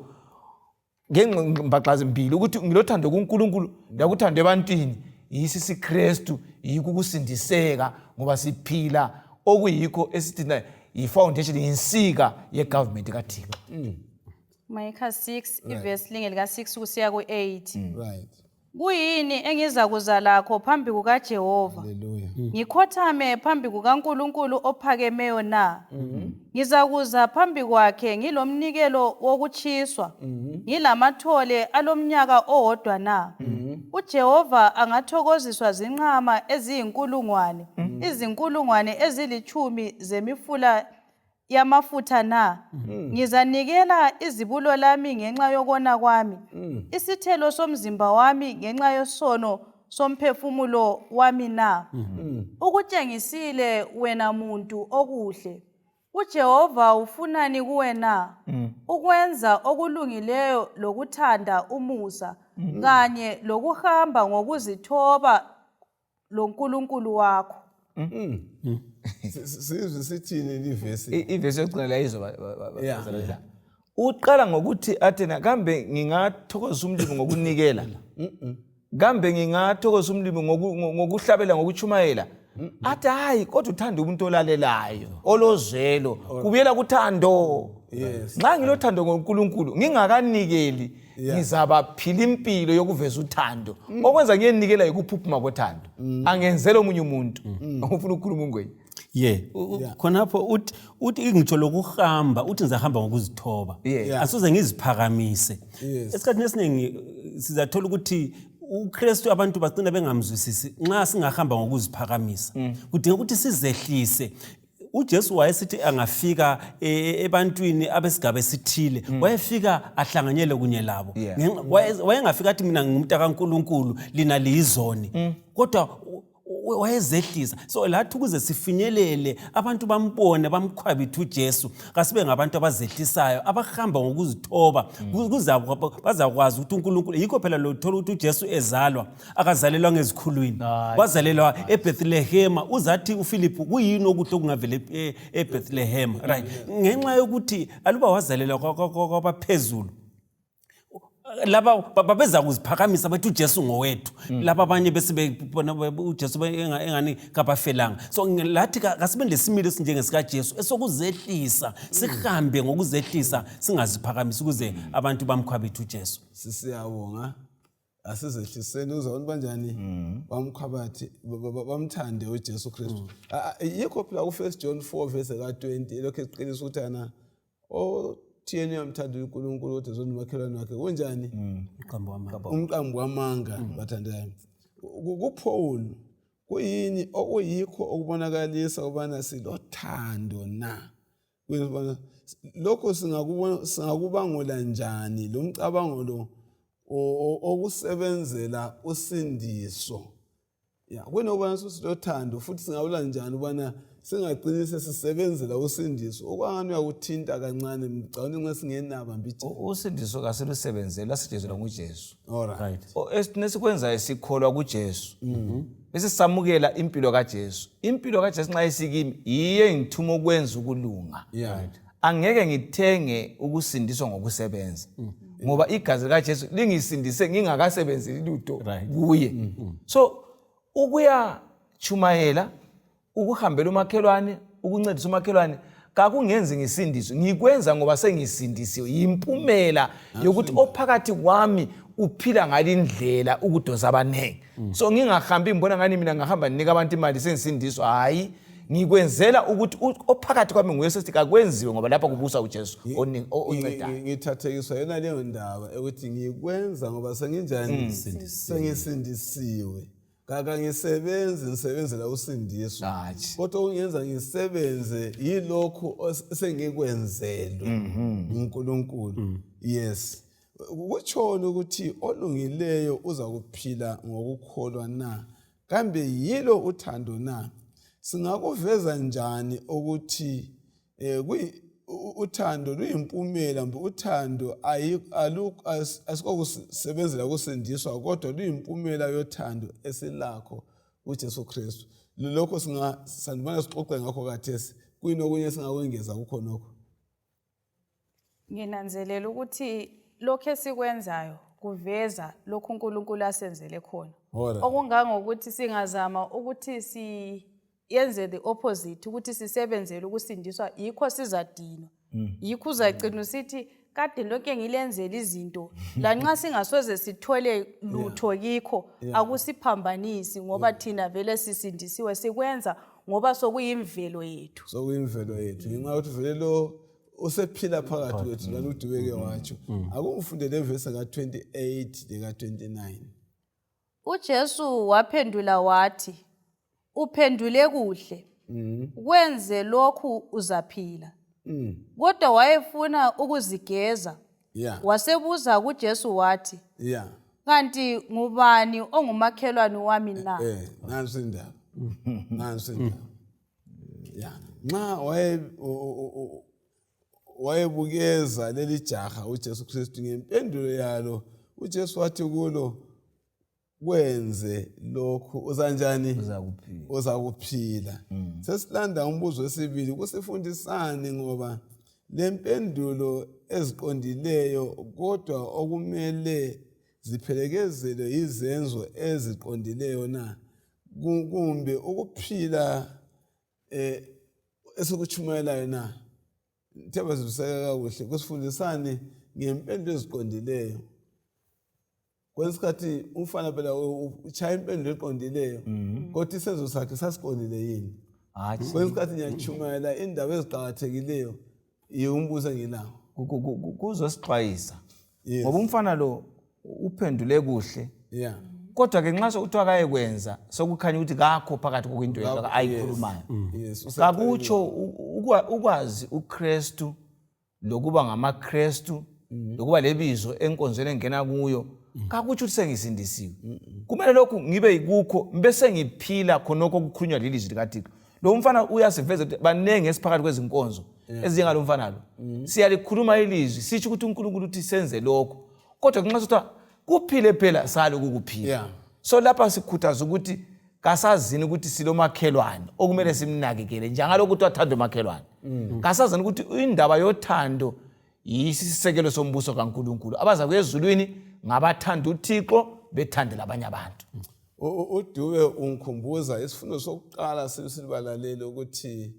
ngembaxa zimbili ukuthi ngilothando kuNkulunkulu lakuthando ebantwini yisi siKristu yikho ukusindiseka ngoba siphila okuyikho esithi na yifoundation yinsika yegovernment kaThixo mm. Micah 6 ivesi linge lika 6 kusiya ku 8 mm. right Kuyini engizakuza lakho phambi kukaJehova? Hallelujah. Ngikhothame phambi kukaNkulunkulu ophakemeyo na? Ngizakuza phambi kwakhe ngilomnikelo wokutshiswa, ngilamathole alomnyaka owodwa na? UJehova angathokoziswa zinqama eziyinkulungwane, izinkulungwane ezilitshumi zemifula yamafutha na? Mm. Ngizanikela izibulo lami ngenxa yokona kwami, mm. isithelo somzimba wami ngenxa yosono somphefumulo wami na? Mm -hmm. Ukutshengisile wena muntu okuhle. UJehova ufunani kuwe na? Mm. Ukwenza okulungileyo lokuthanda umusa mm. kanye lokuhamba ngokuzithoba loNkulunkulu wakho. Sizwe sithini livesi? I- Ivesi yokugcina la izwa ba- ba- ba- ba- Yeah. bazalwane la. Uqala ngokuthi athena kambe ngingathokozisa umlimi ngokunikela. Kambe ngingathokozisa umlimi ngoku- ngo- ngokuhlabela ngokuchumayela. Athi hayi kodwa uthanda umuntu olalelayo, olozwelo, kubuyela kuthando. Yes. Nxa ngilothando ngoNkulunkulu ngingakanikeli ngizabaphila impilo yokuveza uthando mm. okwenza ngiyenikela yikuphuphuma kothando mm. angenzela omunye umuntu mm. ufuna ukukhuluma ungwenye ye khonapho uthi uthi ngitsho lokuhamba uthi ngizahamba ngokuzithoba asuze ngiziphakamise esikhathini esiningi sizathola ukuthi ukristu abantu bagcina bengamzwisisi nxa singahamba ngokuziphakamisa kudinga ukuthi sizehlise uJesu wayesithi angafika e, e, ebantwini abesigaba esithile hmm. wayefika ahlanganyele kunye labo wayengafika athi mina ngumntu kaNkuluNkulu lina liyizoni hmm. kodwa wayezehlisa so lathi ukuze sifinyelele abantu bambone bamkhwabithe ujesu kasibe ngabantu abazehlisayo abahamba ngokuzithoba hmm. bazakwazi ukuthi unkulunkulu yikho phela lothola ukuthi ujesu ezalwa akazalelwa ngezikhulwini Hayi. wazalelwa ebethlehema uzathi ufilipu kuyini okuhle okungavela ep- e- ebethlehema right ngenxa yokuthi aluba wazalelwa kwa- kwa- kwa- kwabaphezulu laba ba- babeza kuziphakamisa bathi ujesu ngowethu laba abanye bese bebona be- ujesu be- enga- engani kabafelanga so nge- lathi ka- kasibe nesimilo esinjengesikajesu esokuzehlisa sihambe ngokuzehlisa singaziphakamisi ukuze abantu bamkhwabithe ujesu sisiyabonga asizehliseni uzabona banjani mm. bamkhabathi bamthande uJesu Kristu mm. yikho phela ku First John 4 verse ka 20 elokhu eqinisa ukuthi ana o thiyeni uyamthanda uNkulunkulu kodwa zona umakhelwane wakhe kunjani mm. umqambo wamanga bathandekayo kuPaul kuyini okuyikho okubonakalisa ubana silothando na Lokho singakubangula njani lomcabango lo owokusebenzela usindiso? Kuwona ukubana susilothando futhi singabangula njani ukubana singacini sesisebenzela usindiso okwangani uyakuthinta kancane ngicabanga ukuthi nxa singenaba mbijana. Usindiso kasilusebenzeli lwasijezelwa nguJesu. Alright. Esikwenzayo sikholwa kuJesu. besisamukela impilo kaJesu impilo kaJesu nxa isikimi yiyo engithuma ukwenza ukulunga angeke ngithenge ukusindiswa ngokusebenza mm. ngoba igazi likaJesu lingisindise ngingakasebenzeli lutho kuye mm. so ukuyatshumayela ukuhambela umakhelwane ukuncedisa umakhelwane kakungenzi ngisindiswe ngikwenza ngoba sengisindisiwe yimpumela yokuthi ophakathi kwami uphila ngalindlela ukudonsa abaningi mm. so ngingahambi ngibona ngani mina ngahamba ndinika abantu imali sengisindiswa hhayi ngikwenzela ukuthi ophakathi kwami nguye sesithi kakwenziwe ngoba lapha kubusa ujesu oncedayo ngithathekiswa yona leyo ndaba ukuthi ngikwenza ngoba senginjani mm. sengisindisiwe Kakangisebenzi ngisebenzela usindiso. Hatshi. Kodwa ungenza ngisebenze yilokhu os- esengikwenzelwe nguNkulunkulu. Yes. Kutshoni ukuthi olungileyo uza kuphila ngokukholwa na? Kambe yilo uthando na? Singakuveza njani ukuthi Eh, uthando luyimpumela mbe uthando asikokusebenzela kusindiswa kodwa luyimpumela yothando esilakho kuJesu Kristu lokho sandibona sixoxe ngakho kathesi kuyini okunye singakwengeza kukhonokho Nginanzelela ukuthi lokhu esikwenzayo kuveza lokhu uNkulunkulu asenzele khona. Alright. Okungangokuthi singazama ukuthi siyenze the opposite ukuthi sisebenzele ukusindiswa yikho sizadinwa. Yikho uzagcina usithi kade lonke ngilenzela izinto lanxa singasoze sithole lutho kikho akusiphambanisi ngoba thina vele sisindisiwe sikwenza ngoba sokuyimvelo yethu. sokuyimvelo yethu ngenxa yokuthi vele lo usephila phakathi kwethu lana udubeke mm-hmm. watsho mm-hmm. akungifunde levesi ka-28 leka-29 ujesu waphendula wathi uphendule kuhle mm-hmm. kwenze lokhu uzaphila mm. kodwa wayefuna ukuzigeza wasebuza kujesu wathi kanti ngubani ongumakhelwane wami na eh, eh, nansi indaba nansi indaba ya nxa wayebukeza leli jaha uJesu Kristu ngempendulo yalo uJesu wathi kulo kwenze lokhu uzanjani uzakuphila mm. sesilanda umbuzo wesibili kusifundisani ngoba lempendulo eziqondileyo kodwa okumele ziphelekezelwe yizenzo eziqondileyo na kumbe ukuphila esikutshumayelayo na? Ngithe bazwisiseka kakuhle kusifundisani ngempendula eziqondileyo kwesinye isikhathi umfana phela utshaya impendulo eqondileyo mhm. kodwa isenzo sakhe sasiqondile yini kwesinye isikhathi ngiyatshumayela indaba eziqakathekileyo Ye umbuza ngelanga. Ku- ku- ku- ku- Kuzosixwayisa. Yes. Ngoba umfana lo uphendule kuhle. Yeah. Kodwa ke nxa sekuthiwa akayekwenza sokukhanya ukuthi kakho phakathi kokwinto yakhe Kakho, ayikhulumayo. Yes. Use- Kakutsho u- ukwa- ukwazi uKristu lokuba ngamaKristu lokuba lebizo enkonzweni engena kuyo kakutsho ukuthi sengisindisiwe. Kumele lokhu ngibe yikukho bese ngiphila khonokho okukhulunywa lilizwi likaThixo. lo mfana uyasiveza ukuthi baningi esiphakathi kwezinkonzo ezinjengalo mfana lo mm-hmm. siyalikhuluma ilizwi sitsho ukuthi unkulunkulu uthi senze lokho kodwa kunxa sithiwa kuphile phela sali ukukuphila so lapha sikhuthaza ukuthi kasazini ukuthi silomakhelwane okumele mm. simnakekele njengalokho kuthiwa thando makhelwane mm. kasazini ukuthi indaba yothando yisisekelo sombuso kankulunkulu abaza kwezulwini ngabathanda uthixo bethandela abanye abantu mm. UDube ungikhumbuza isifundo sokuqala sibalalele ukuthi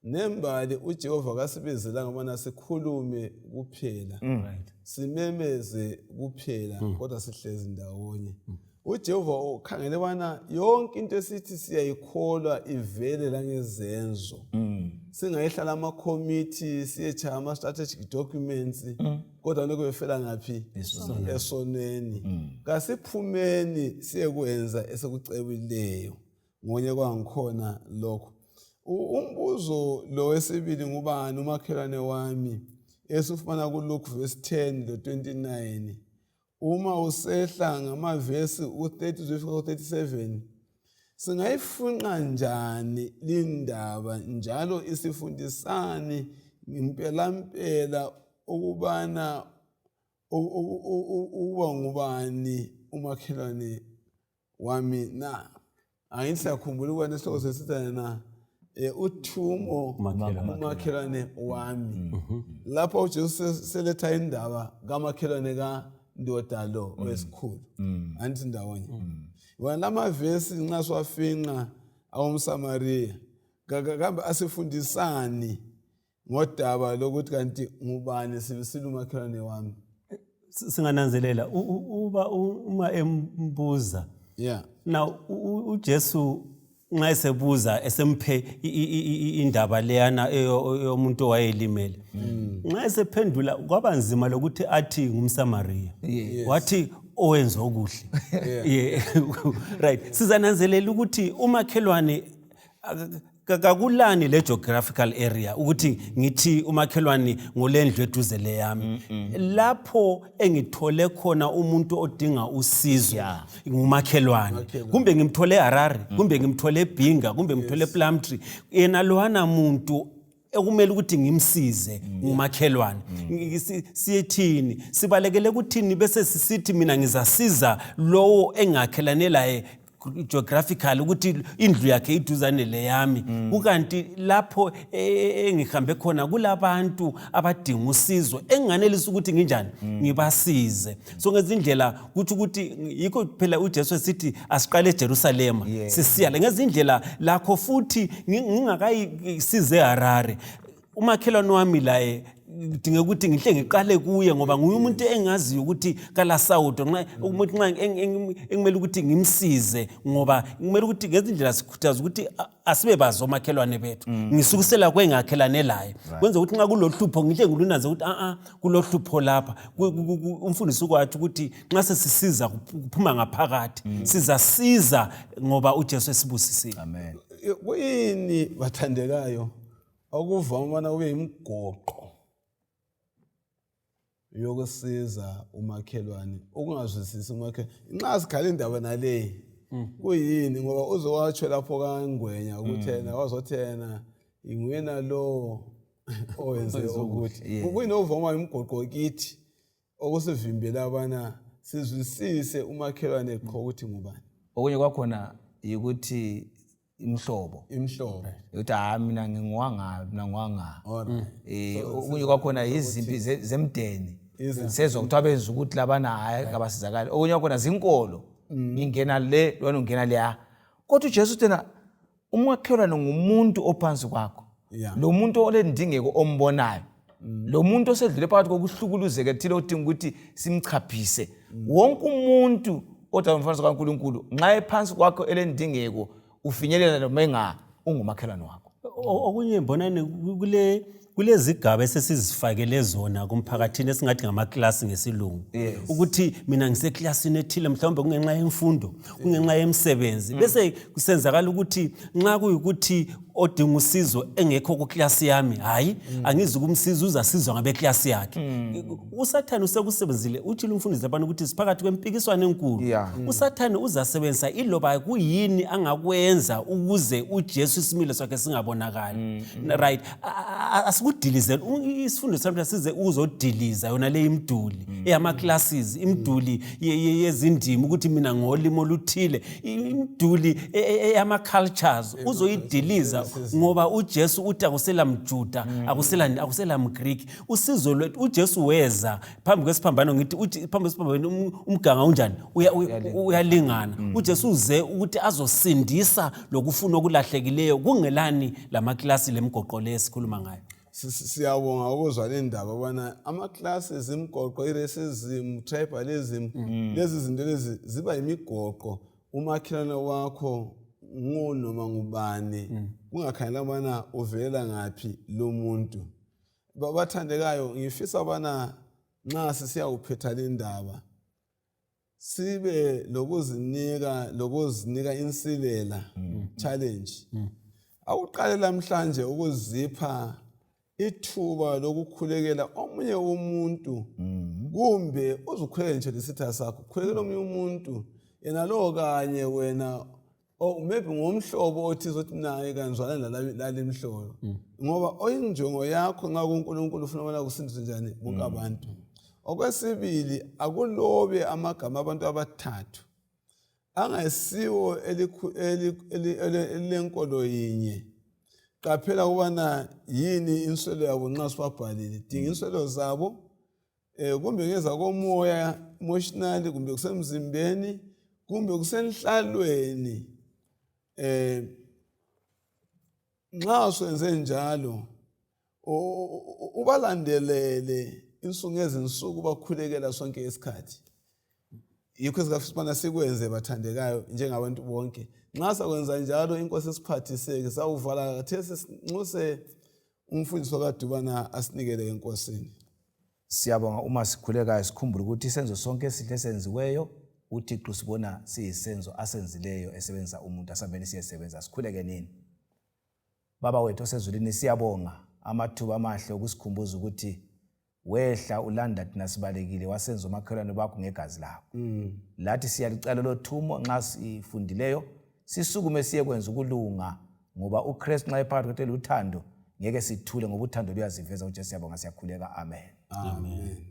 nembali uJehova kasibizelanga ukubana sikhulume kuphela mm. simemeze kuphela mm. kodwa sihlezi ndawonye mm. uJehova ukhangele bana yonke into esithi siyayikholwa ivele langezenzo singayihlala amakhomithi siyetshaya ama-strategic documents kodwa lokho befela ngaphi esonweni mm. kasiphumeni siyekwenza esekucebileyo ngonye kwangikhona lokho umbuzo lo wesibili ngubani umakhelwane wami esifumana kulukhu verse 10 lo 29 uma usehla ngamavesi u-33-37 singayifunqa njani lindaba njalo isifundisani ngempelampela ukubana ukuba ngubani umakhelwane wami na angisakhumbuli ukubana isihloko sesithane na um uthumo Umakhelwane. umakhelwane wami lapho ujesu se- seletha indaba kamakhelwane kandoda lo owesikhulu andithi ndawonye wona la mavesi nxa siwafinqa awomsamariya Ka- ka- kambe asifundisani ngodaba lokuthi kanti ngubani sibisile umakhelwane wami singananzelela uba uma embuza yeah na uJesu nxa esebuza esemphe indaba leyana yomuntu owayelimele mm. nxa esephendula kwaba nzima lokuthi athi ngumsamariya wathi owenza okuhle right sizananzelela ukuthi umakhelwane Ka- kakulani le geographical area ukuthi ngithi umakhelwane ngolendlu eduze leyami lapho engithole khona umuntu odinga usizo Yeah. ngumakhelwane kumbe ngimthole eharare kumbe ngimthole ebhinga kumbe ngimthole eplumtree yena lowana muntu ekumele ukuthi ngimsize ngumakhelwane Ngi- si- siyethini sibalekele kuthini bese sisithi mina ngizasiza lowo engakhelane laye geographical ukuthi indlu yakhe iduzane leyami mm. kukanti lapho e, e, engihambe khona kulabantu abadinga usizo enganelisa ukuthi nginjani mm. ngibasize so ngezindlela kuthi ukuthi yikho phela uJesu esithi asiqale eJerusalema sisiya ngezindlela lakho futhi ngingakayisize eHarare umakhelwane wami laye ngidinga ukuthi ngihle ngiqale kuye ngoba nguye umuntu engaziyo ukuthi kalasawudo umuntu nxa engimele ukuthi ngimsize ngoba kumele ukuthi ngezindlela sikhuthaza ukuthi asibe bazi omakhelwane bethu mm. ngisukusela kwengakhelane laye kwenza ukuthi nxa kulohlupho ngihle ngilunanze ukuthi a-a kulohlupho lapha umfundisi ukwathi ukuthi nxa sesisiza kuphuma ngaphakathi mm. sizasiza ngoba ujesu esibusisile kuyini bathandekayo okuvama ubana kube yimgoqo yokusiza umakhelwane ukungazwisisi umakhelwane nxa sikhala indaba naleyi mm. kuyini ngoba uze watsho lapho kangwenya ukuthena mm. wazothena ingwena lowo owenze ukuthi kuyini ovama imgoqo kithi okusivimbela abana sizwisise umakhelwane qho ukuthi ngubani okunye kwakhona yikuthi imhlobo imhlobo yokuthi hayi mina ngingiwanga mina ngiwanga um eh, okunye kwakhona yizimpi zemdeni sezwa kuthiwa benza ukuthi labana hhayi kabasizakali okunye kwakhona zinkolo mm. ngingena le lwana ungena leya kodwa ujesu uthena umakhelwane ngumuntu ophansi kwakho yeah. lo muntu olendingeko ombonayo mm. lo muntu osedlule phakathi kokuhlukuluzeka ethile odinga ukuthi simchaphise mm. wonke umuntu odala umfanekiso kankulunkulu nxa ephansi kwakho elendingeko ufinyelela noma enga ungumakhelwane wakho okunye mbonani kule kulezigaba esesizifakele zona kumphakathini esingathi ngamakilasi ngesilungu yes. ukuthi mina ngisekilasini ethile mhlawumbe kungenxa yemfundo kungenxa yemsebenzi mm. bese kusenzakala ukuthi nxa kuyukuthi odinga usizo engekho kuklasi yami hhayi mm. angizi ukumsiza uzasizwa ngabeklasi yakhe mm. usathane usekusebenzile utshile umfundisi labana ukuthi siphakathi kwempikiswano enkulu yeah. mm. usathane uzasebenzisa iloba kuyini angakwenza ukuze ujesu isimilo sakhe singabonakali mm. mm. right asikudilize isifundo samhla size uzodiliza yona le imduli mm. eyama-classes imduli yezindima ukuthi mina ngolimi oluthile imduli e, e, eyama-cultures uzoyidiliza ngoba ujesu uthi akusela mjuda mm. akusela mgreek usizo lwethu ujesu weza phambi kwesiphambano ngithi uthi phambi kwesiphambano um- umganga unjani Uya- uya- uyalingana Mm. ujesu uze ukuthi azosindisa lokufuna okulahlekileyo kungelani la makilasi le migoqo le esikhuluma ngayo Si- si- siyabonga ukuzwa le ndaba ubana ama-classes imigoqo i-racism tribalism Mm. lezi zinto lezi ziba yimigoqo umakhelwane wakho ngunoma ngubani Mm. kungakhangelanga ubana uvelela ngaphi lo muntu babathandekayo ngifisa bana nxa sisiyawuphetha lindaba sibe lokuzinika lokuzinika insilela mm. challenge mm. akuqale lamhlanje ukuzipha ithuba lokukhulekela omunye umuntu mm. kumbe uzukhulekele nje lesitha sakho khulekela omunye umuntu yena lowo kanye wena or oh, maybe ngomhlobo othi zothi naye kanizwana lale mhlobo mm. ngoba oyinjongo yakho nxa kunkulunkulu ufuna ubona kusindiswe njani bonke mm. abantu okwesibili akulobe amagama abantu abathathu angesiwo elilenkolo yinye qaphela ukubana yini inswelo yabo nxa sibabhalile dinga mm. inswelo zabo um kumbe ngezakomoya emotionally kumbe kusemzimbeni kumbe kusenhlalweni um nxa swenze njalo ubalandelele insuku ngezinsuku bakhulekela sonke isikhathi yikho sikafisibana sikwenze bathandekayo njengabantu bonke nxa sakwenza njalo inkosi esiphathiseke sawuvala kathesi sinxuse umfundisi wakadubana asinikele enkosini siyabonga uma sikhulekayo sikhumbule ukuthi isenzo sonke esihle esenziweyo uthixo sibona siyisenzo asenzileyo esebenzisa umuntu asambeni siyesebenza sikhuleke nini baba wethu osezulwini siyabonga amathuba amahle okusikhumbuza ukuthi wehla ulanda thina sibalekile wasenza omakhelwane bakho ngegazi lakho mm. lathi siyalicala lothumo nxa sifundileyo sisukume siyekwenza ukulunga ngoba ukristu nxa ephakathi kwethu eluthando ngeke sithule ngoba uthando luyaziveza ujesu yabonga siyakhuleka amen, amen. amen.